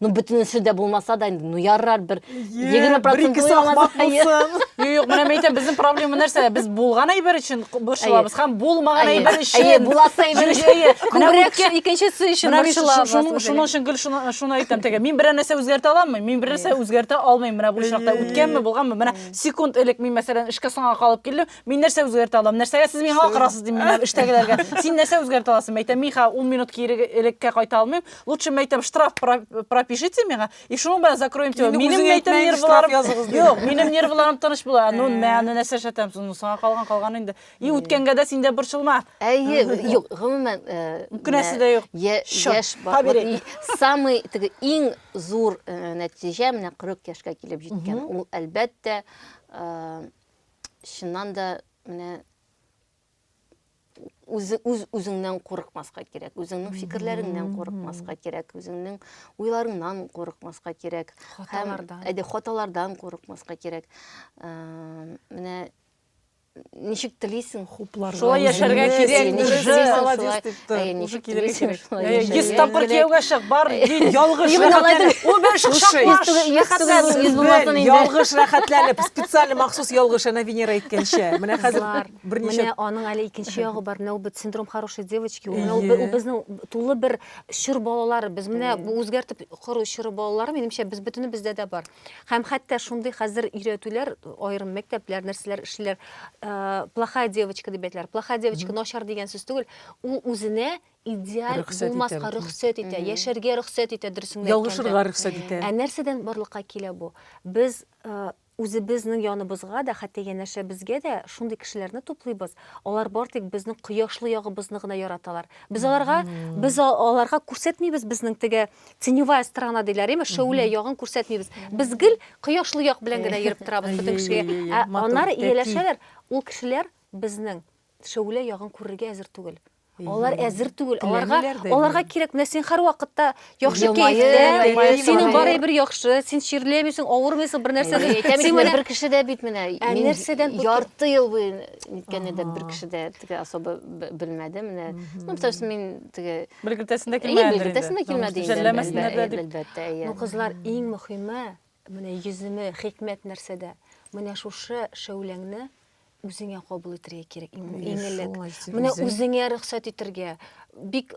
ну бөтенесе дә булмаса да инде ну ярар бер егерме процент юк менә мен әйтәм безнең проблема нәрсә без булган әйбер өчен борчылабыз һәм булмаган әйбер өчен буласы әйбер өчен икенчесе өчен борчылабыз шуның өчен гел шуны әйтәм теге мин берәр нәрсә үзгәртә аламмы мин бер нәрсә үзгәртә алмыйм менә бу очракта үткәнме булганмы менә секунд элек мин мәсәлән эшкә соңга калып килдем Мин нәрсә үзгәртә алам? Нәрсәгә сез миңа акырасыз дим мин эштәгеләргә. Син нәрсә үзгәртә аласың? Мәйтәм, мин хәзер 10 минут кире элеккә кайта алмыйм. Лучше мәйтәм штраф пропишите миңа, и шуның белән закроем тебя. Минем мәйтәм нервларым языгыз. Юк, минем нервларым тыныч була. Ну, мәне нәрсә эшләтәм? Ну, саңа калган калган инде. И үткәнгә дә син дә борчылма. Әйе, юк, гомумән, күнәсе дә юк. Яшь бабай. Самый теге иң зур нәтиҗә менә 40 яшькә килеп җиткән. Ул әлбәттә чыннан да менә үзе үз үзеңнән курыкмаска кирәк үзеңнең фикерләреңнән курыкмаска кирәк үзеңнең уйларыңнан курыкмаска кирәк хаталардан әйдә хаталардан курыкмаска кирәк менә ничек телисең Шулай яшәргә кирәк. Йөз тапкыр кияүгә чык, бар, ялгыш рәхәтләнеп. Ул бер ялгыш рәхәтләнеп, специаль махсус ялгыш, әнә Венера әйткәнчә. Менә хәзер берничә. Менә аның әле икенче ягы бар. Менә ул бит синдром хорошей девочки. Ул безнең тулы бер чор балалар. Без менә үзгәртеп кору чоры балалар, минемчә, без бөтенебездә дә бар. Һәм хәтта шундый хәзер өйрәтүләр, аерым мәктәпләр, нәрсәләр эшлиләр, плохая девочка дип әйтәләр. Плохая девочка начар дигән сүз түгел, ул үзенә идеаль булмаска рөхсәт итә, яшәргә рөхсәт итә, дөресен әйткәндә. Ялгышырга рөхсәт итә. Ә нәрсәдән барлыкка килә бу? Без үзебезнең яныбызга да, хәтта янәшәбезгә дә шундый кешеләрне туплыйбыз, алар бар тик безнең кояшлы ягыбызны гына яраталар. Без аларга, без аларга күрсәтмибез безнең теге теневая сторона диләр яме шәүлә ягын күрсәтмибез без гел кояшлы як белән генә йөреп торабыз бөтен кешегә аннары ияләшәләр ул кешеләр безнең шәүлә ягын күрергә әзер түгел Алар әзер түгел. Аларга аларга кирәк менә син һәрвакытта яхшы кәефтә, синең бары бер яхшы, син чирләмисең, авырмыйсың, бер нәрсә. Син менә бер кеше дә бит менә. Ә нәрсәдән ярты ел буе ниткән дә бер кеше дә теге особо белмәде менә. Ну, потому что мин теге бер кертәсендә килмәгәндер бер кертәсендә килмәде инде әлбәттә әйе кызлар иң мөхиме менә йөземе хикмәт нәрсәдә менә шушы шәүләңне үзеңә кабул итәргә кирәк иң элек менә үзеңә рөхсәт итәргә бик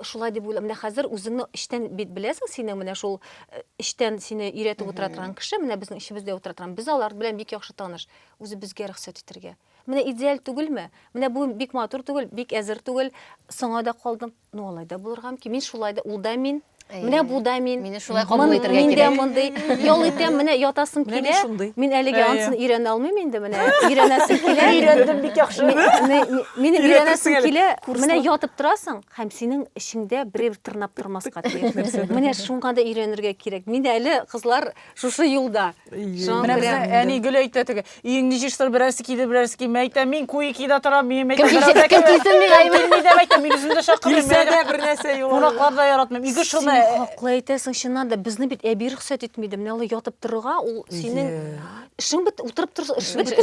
шулай дип уйлап менә хәзер үзеңне эчтән бит беләсең синең менә шул э, эчтән сине өйрәтеп утыра торган кеше менә безнең эчебездә утыра торган без алар белән бик яхшы таныш үзе безгә рөхсәт итәргә Менә идеаль түгелме? Менә бу бик матур түгел, бик әзер түгел. Соңа да калдым. Ну, алай да булырга мөмкин. Мин шулай да, ул да мин. Менә бу да мин. Мине шулай кабул Мон- итәргә Мин дә кирәк. мондый. Ял итәм, менә ятасым Менә мин килә. шундый. Мин әлегә Әйе. ансыны өйрәнә алмыйм инде, менә өйрәнәсем килә. Өйрәндем бик яхшы. Ми- ми- ми- Мине Өйрәтәсең өйрәнәсем әле. килә. Курслар. Менә ятып торасың һәм синең эчеңдә берәү тырнап тормаска тиеш. Менә шуңа да өйрәнергә кирәк. Мин әле кызлар шушы юлда. Менә безнең әни гел әйтә теге, өеңне җыештыр, берәрсе килер, берәрсе килми. Әйтә, мин куекида торам, мин әйтә, берәрсе кем килсен миңа әйме. Мин дә әйтә, мин үзем дә чакырмыйм. Килсә дә бер нәрсә юк. Кунаклар да яратмыйм. Ике шуны. Хаклы әйтәсең, чыннан да безне бит әби рөхсәт итми иде. Менә ул ятып торырга, ул синең эшең бит утырып торса, эшең бит.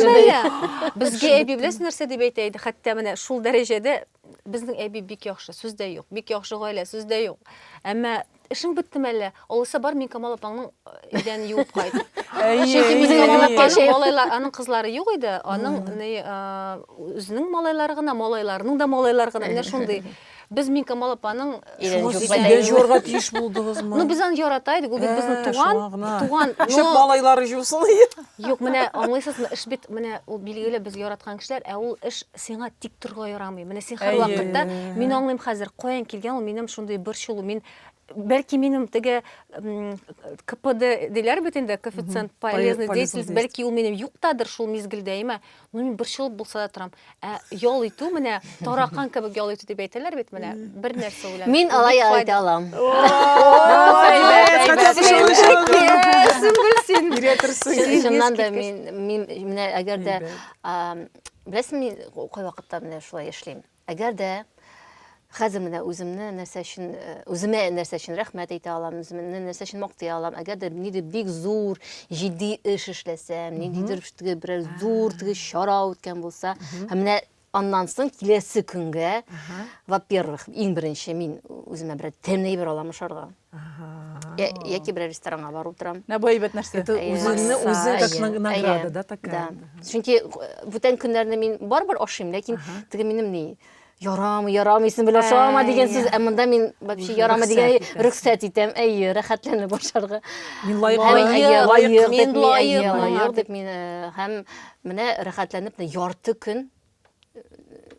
Безгә әби беләсең нәрсә дип әйтә иде, хәтта менә шул дәрәҗәдә безнең әби бик яхшы, сүз дә юк. Бик яхшы гаилә, сүз дә юк. Әмма эшең беттеме әллә? Алайса бар, мин Камал апаңның э, идәнен юып кайт. Чөнки безнең Камал әйе. апаның малайлар, аның кызлары юк иде. Аның ни, а, үзенең малайлары гына, малайларының да малайлары гына. Менә шундый. Без мин Камал апаның Шуңа сез идән җуарга тиеш булдыгызмы? Ну, без аны ярата идек, ул бит безнең туган, туган. Шәп малайлары җусын. Юк, менә аңлыйсызмы, эш бит менә ул билгеле без яраткан кешеләр, ә ул эш сиңа тик торырга ярамый. Менә син һәр вакытта, мин аңлыйм хәзер, каян килгән ул минем шундый борчылу. Мин бәлки минем теге КПД диләр бит инде, коэффициент полезной деятельности, бәлки ул минем юктадыр шул мизгелдә, әмма Ну, мин борчылып булса да торам. Ә ял итү менә таракан кебек ял итү дип әйтәләр бит менә. Бер нәрсә белән. Мин алай ял итә алам. Сүмбел син. Чыннан да мин мин менә әгәр дә беләсең мин кайвакытта менә шулай эшлим. Әгәр дә хәзер менә үземне нәрсә өчен э, үземә нәрсә өчен рәхмәт әйтә алам, үземне нәрсә өчен мактый алам. Әгәр дә нидер бик зур, җитди эш эшләсәм, ниндидер теге берәр зур теге чара үткән булса, һәм менә аннан соң киләсе көнгә, во-первых, иң беренче мин үземә берәр тәмле әйбер алам ашарга. Я, я кибер ресторанга барып торам. На бу әйбәт нәрсә. Это үзеңне үзе как награда, да, такая. Да. Чөнки бүтән көннәрне мин барбер ашыйм, ләкин теге минем ни ярамы, ярамы, исем белән шама дигән сүз, ә монда мин вообще ярамы дигән рөхсәт итәм. Әйе, рәхәтләнеп башарга. Мин лаек, лаек, мин лаек, лаек дип мин һәм менә рәхәтләнеп ярты көн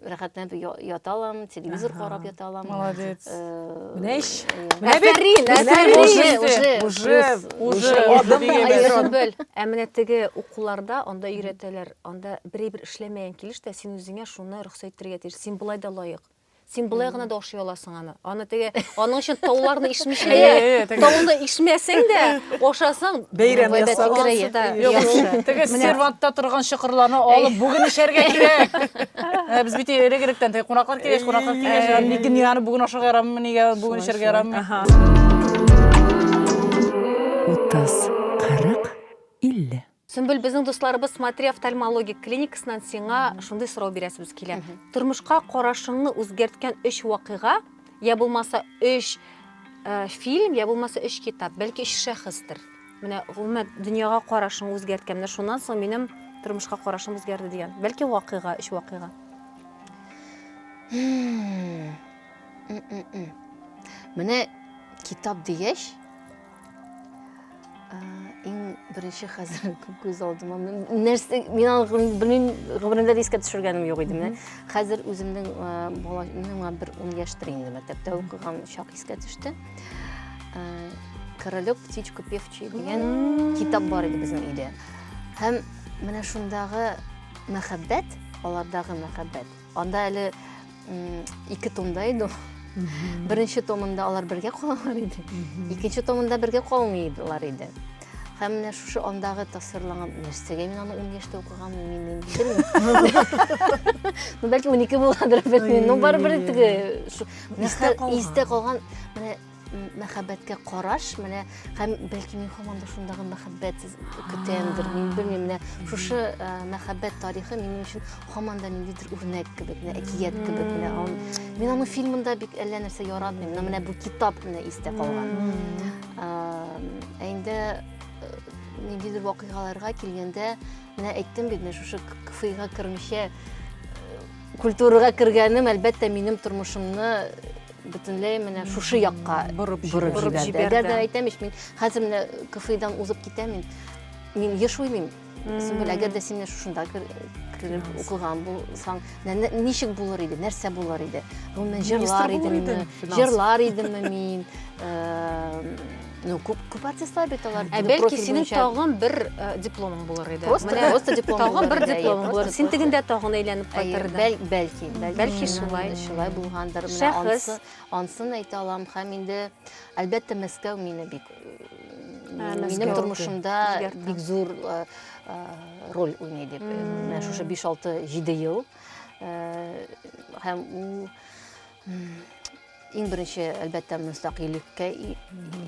рәхәтләнеп ята алам, телевизор карап ята алам. Молодец. Менә ич. Менә бит. Әсәрин, уже, уже адым бел. Ә менә теге укуларда анда өйрәтәләр, анда бер-бер эшләмәгән килеш тә син үзеңә шуны рөхсәт итәргә тиеш. Син болай да лаек. Син былай гына да ашый аласың аны. Аны теге аның өчен тауларны ишмичә дә, тауны ишмәсәң дә, ашасаң бәйрәм ясаласы да яхшы. Теге сервантта торган чокырларны алып бүген эчәргә кирәк. Ә без бит элек-электән теге кунаклар килгәч, кунаклар килгәч, ни генә аны бүген ашарга ярамы, нигә бүген эчәргә ярамы? Утыз, кырык, илле. Сөмбел, безнең дусларыбыз Смотри офтальмологик клиникасыннан сиңа шундый сорау бирәсебез килә. Тормышка карашыңны үзгәрткән өч вакыйга, я булмаса өч э, фильм, я булмаса өч китап, бәлки өч шәхестер. Менә гомумән дөньяга карашың үзгәрткән. Менә шуннан соң минем тормышка карашым үзгәрде дигән. Бәлки вакыйга, өч вакыйга. Менә китап дигәч, Иң беренче хәзер күз алдыма нәрсә мин алгым белмим гомеремдә дискә төшергәнем юк иде менә. Хәзер үземнең бала миңа бер 10 яшьтер инде мәктәптә укыган чак искә төште. Королек птичку певчий дигән китап бар иде безнең өйдә. Һәм менә шундагы мәхәббәт, алардагы мәхәббәт Анда әле ике томда иде ул. Беренче томында алар бергә калалар иде. Икенче томында бергә калмыйлар иде. Һәм менә шушы андагы тасвирланган нәрсәгә мин аны 10 яшьтә укыган мин белмим. Ну бәлки 12 буладыр, белмим. Ну барыбер теге истә калган менә мәхәббәткә караш менә һәм бәлки мин һаман да шундагы мәхәббәт көтәмдер мин белмим менә шушы э, мәхәббәт тарихы минем өчен һаман да ниндидер үрнәк кебек менә әкият кебек менә мин аның фильмында бик әллә нәрсә яратмыйм менә менә бу китап менә истә калган ә инде э, ниндидер вакыйгаларга килгәндә менә әйттем бит менә шушы кфига кермичә э, культурага кергәнем әлбәттә минем тормышымны бөтенләй менә шушы якка борып җибәрде. Әгәр дә әйтәм ич, мин хәзер менә КФИдан узып китәм, мин мин еш уйлыйм. Сүмбел, әгәр дә син шушында кереп укыган булсаң, ничек булыр иде, нәрсә булыр иде? Гомумән җырлар идемме? Җырлар идемме мин? Ну, күп, күп артистлар бит алар. Ә бәлки синең тагын бер э, дипломың булыр иде. Просто, Менә, просто диплом тагын бер дипломың булыр. Син тегендә тагын әйләнеп кайтырдың. Бәл, бәлки, бәлки, бәлки шулай, шулай булгандыр. Менә ансы, ансын әйтә алам һәм инде әлбәттә Мәскәү мине бик минем тормышымда бик зур э, э, роль уйный дип. Менә шушы 5-6-7 ел һәм ул Иң беренче, әлбәттә, мөстәкыйльлеккә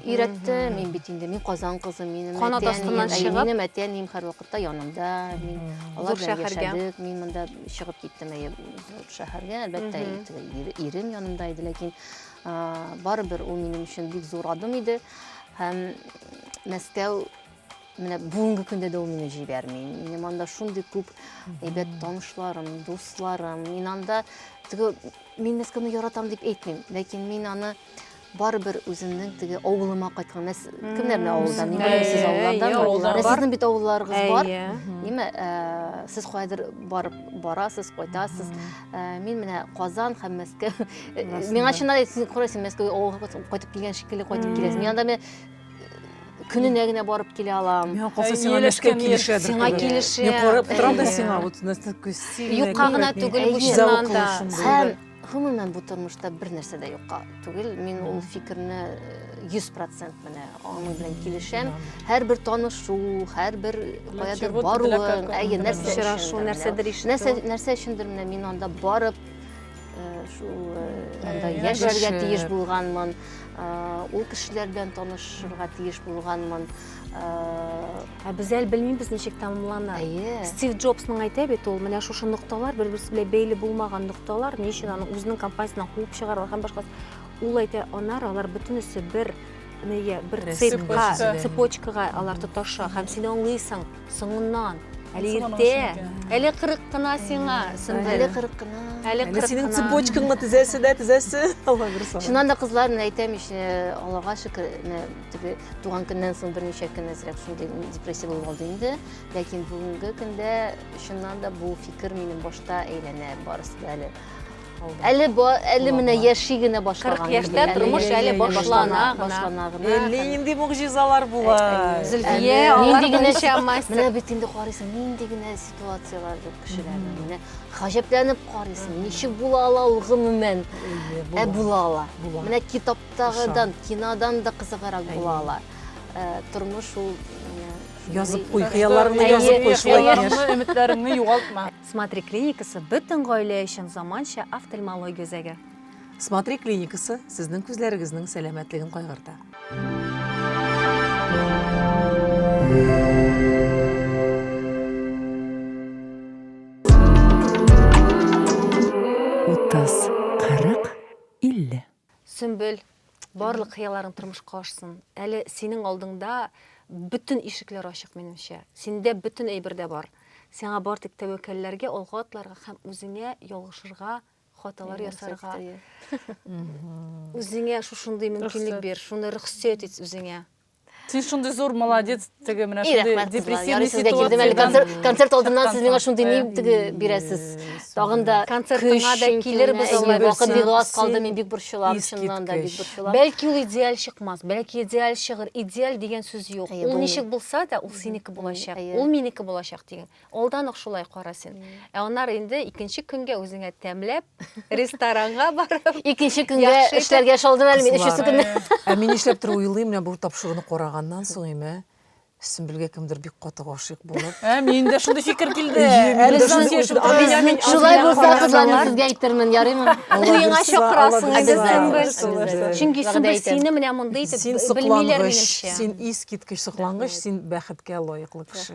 өйрәтте. Мин бит инде, мин Казан кызы, минем Канат астыннан чыгып. Минем әтиәнием һәрвакытта янымда. Мин алар белән яшәдек. Мин монда чыгып киттем әйе зур шәһәргә. Әлбәттә, ирем янымда иде, ләкин барыбер ул минем өчен бик зур адым иде. Һәм Мәскәү Менә бүгенге көндә дә ул мине җибәрми. Минем анда шундый күп әйбәт танышларым, дусларым. Мин анда теге мин Мәскәүне яратам дип әйтмим, ләкин мин аны барыбер үземнең теге авылыма кайткан. Мәс кемнәрне авылда? Мин белмим, сез авыллардан. Сезнең бит авылларыгыз бар. Ниме? Ә, сез кайдыр барып барасыз, кайтасыз. Ә, мин менә Казан һәм Мәскәү. Миңа чыннан әйтсәң, күрәсең, Мәскәүгә авылга кайтып килгән шикелле кайтып киләсең. Мин анда көненә генә барып килә алам. Миңа калса сиңа нәрсә килешә. Сиңа килешә. Мин карап торам да сиңа вот нәрсә күсил. Юкка гына түгел бу чыннан да. Һәм гомумән бу тормышта бер нәрсә дә юкка түгел. Мин ул фикерне 100% менә аның белән килешәм. Һәрбер танышу, һәрбер каядыр баруың, әйе, нәрсә очрашу, нәрсәдер ишетү. Нәрсә нәрсә өчендер менә мин анда барып анда яшәргә тиеш булганмын ул кешеләр белән танышырга тиеш булганмын ә без әле белмибез ничек тәмамлана әйе стив джобсның әйтә бит ул менә шушы нокталар бер берсе белән бәйле булмаган нокталар ни өчен аны үзенең компаниясеннән куып чыгаралар һәм башка ул әйтә анар алар бөтенесе бер нигә бер цепка цепочкага алар тоташа һәм син аңлыйсың Соңыннан. Әле иртә. Әле 40 кына сиңа, Сөнбел. Әле 40 кына. Әле 40 кына. Синең цепочкаңны тезәсе дә, тезәсе. Алла бер сорау. Шуннан да кызлар, мен әйтәм, ич, Аллага шөкер, теге туган көннән соң берничә көн әзрәк шундый депрессия булып алды инде. Ләкин бүгенге көндә чыннан да бу фикер минем башта әйләнә барысы да әле. Әле ба, әле менә яши генә башлаган. 40 яшьтә инде. тормыш Әле әле яши, башлана гына. башлана гына. Әле нинди могҗизалар була. Зөлфия, Әле алар нинди генә буенча сит- мастер. Менә бит инде карыйсың, нинди генә ситуацияләр юк кешеләрнең. Менә гаҗәпләнеп карыйсың, ничек була ала ул гомумән? Ә була ала. Була. Менә китаптагыдан, кинодан да кызыгырак була ала. Э, Тормыш ул менә шундый- Язып куй, хыялларыңны Әйе, язып куй, шулай хыялларыңны, яшь. өметләреңне югалтма. Смотри клиникасы бөтен гаилә өчен заманча офтальмология үзәге. Смотри клиникасы сезнең күзләрегезнең сәламәтлеген кайгырта. Утыз, кырык, илле. Сөмбел, барлык хыялларың тормышка ашсын. Әле синең алдыңда бөтен ишекләр ачык, минемчә. Синдә бөтен әйбер дә бар. Сиңа бар тик тәвәккәлләргә, алга атларга һәм үзеңә ялгышырга, хаталар ясарга. Үзеңә шушындый мөмкинлек бир, шуны рөхсәт ит үзеңә. сен шундай зор молодец теге менә шундай депрессивный ситуациядан концерт алдыннан сез миңа шундый ни теге бирәсез тагын да концертыңа да килербез алай вакыт бик аз калды мин бик борчылам чыннан да бик борчылам бәлки ул идеаль чыкмас бәлки идеаль чыгыр идеаль дигән сүз юк ул ничек булса да ул синеке булачак ул минеке булачак дигән Алдан ук шулай кара син. Ә аннары инде икенче көнгә үзеңә тәмләп, ресторанга барып, икенче көнгә эшләргә шалдым әле мин өченче көнне. Ә мин нишләп төр уйлыйм, менә бу тапшыруны караганнан соң име, Сөмбелгә кемдер бик каты гашыйк булып. Ә мин дә шундый фикер килде. Шулай булса кызларны сезгә әйтермен, ярыймы? Уеңа чакырасың инде Сөмбел. Чөнки Сөмбел сине менә мондый итеп белмиләр минемчә. Син искиткеч соклангыч, син бәхеткә лаеклы кеше.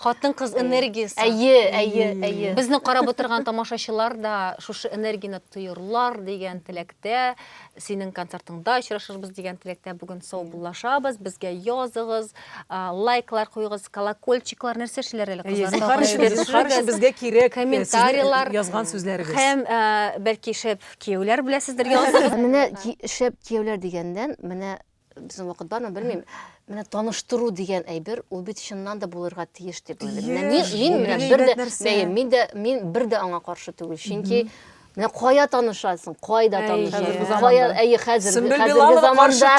Хатын-кыз энергиясе. Әйе, әйе, әйе. Безне карап утырган тамашачылар да шушы энергияне тоерлар дигән теләктә, синең концертыңда очрашырбыз дигән теләктә бүген саубуллашабыз. Безгә языгыз, лайклар куегыз, колокольчиклар нәрсә эшләр әле кызлар? Безгә кирәк комментарийлар язган сүзләрегез. Һәм бәлки шәп кияүләр беләсездер языгыз. Менә шәп кияүләр дигәндән, менә Безнең вакыт бармы, белмим. Менә таныштыру дигән әйбер, ул бит чыннан да булырга тиеш дип уйлыйм. Менә мин, мин менә бер дә, мәем, мин дә, мин бер дә аңа каршы түгел. Чөнки Менә кая танышасың, кайда танышасың, кая, әйе, хәзер, хәзерге заманда.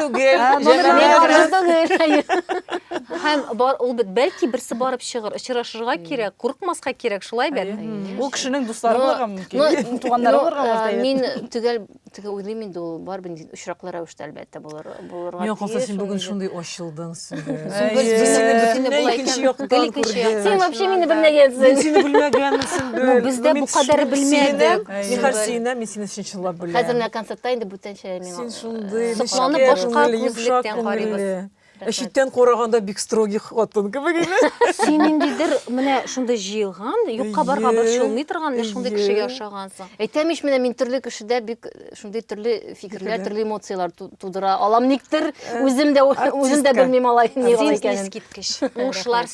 Һәм ул бит бәлки берсе барып чыгыр, очрашырга кирәк, курыкмаска кирәк, шулай бит. Ул кешенең дуслары булырга мөмкин, туганнары булырга мөмкин. Мин төгәл теге уйлыйм инде ул барыбер очраклы рәвештә әлбәттә булыр булырга тиеш. Миңа калса син бүген шундый ачылдың Сөмбел. Син вообще мине белмәгәнсең. Мин сине белмәгәнмен Сөмбел. Без дә бу кадәр белмәдек. Мин хәзер сине, мин сине чынлап беләм. Хәзер менә концертта инде бүтәнчә миңа. Син шундый, сокланып башка күзлектән карыйбыз. Ә читтән караганда бик строгий хатын кебек иде. Син ниндидер менә шундый җыелган, юкка барга борчылмый торган, менә шундый кешегә ошагансың. Әйтәм ич, менә мин төрле кешедә бик э, шундый төрле фикерләр, төрле эмоцияләр тудыра алам никтер. Э, үзем дә үзем дә белмим алай ни икәнен. Син искиткеч. Уңышлар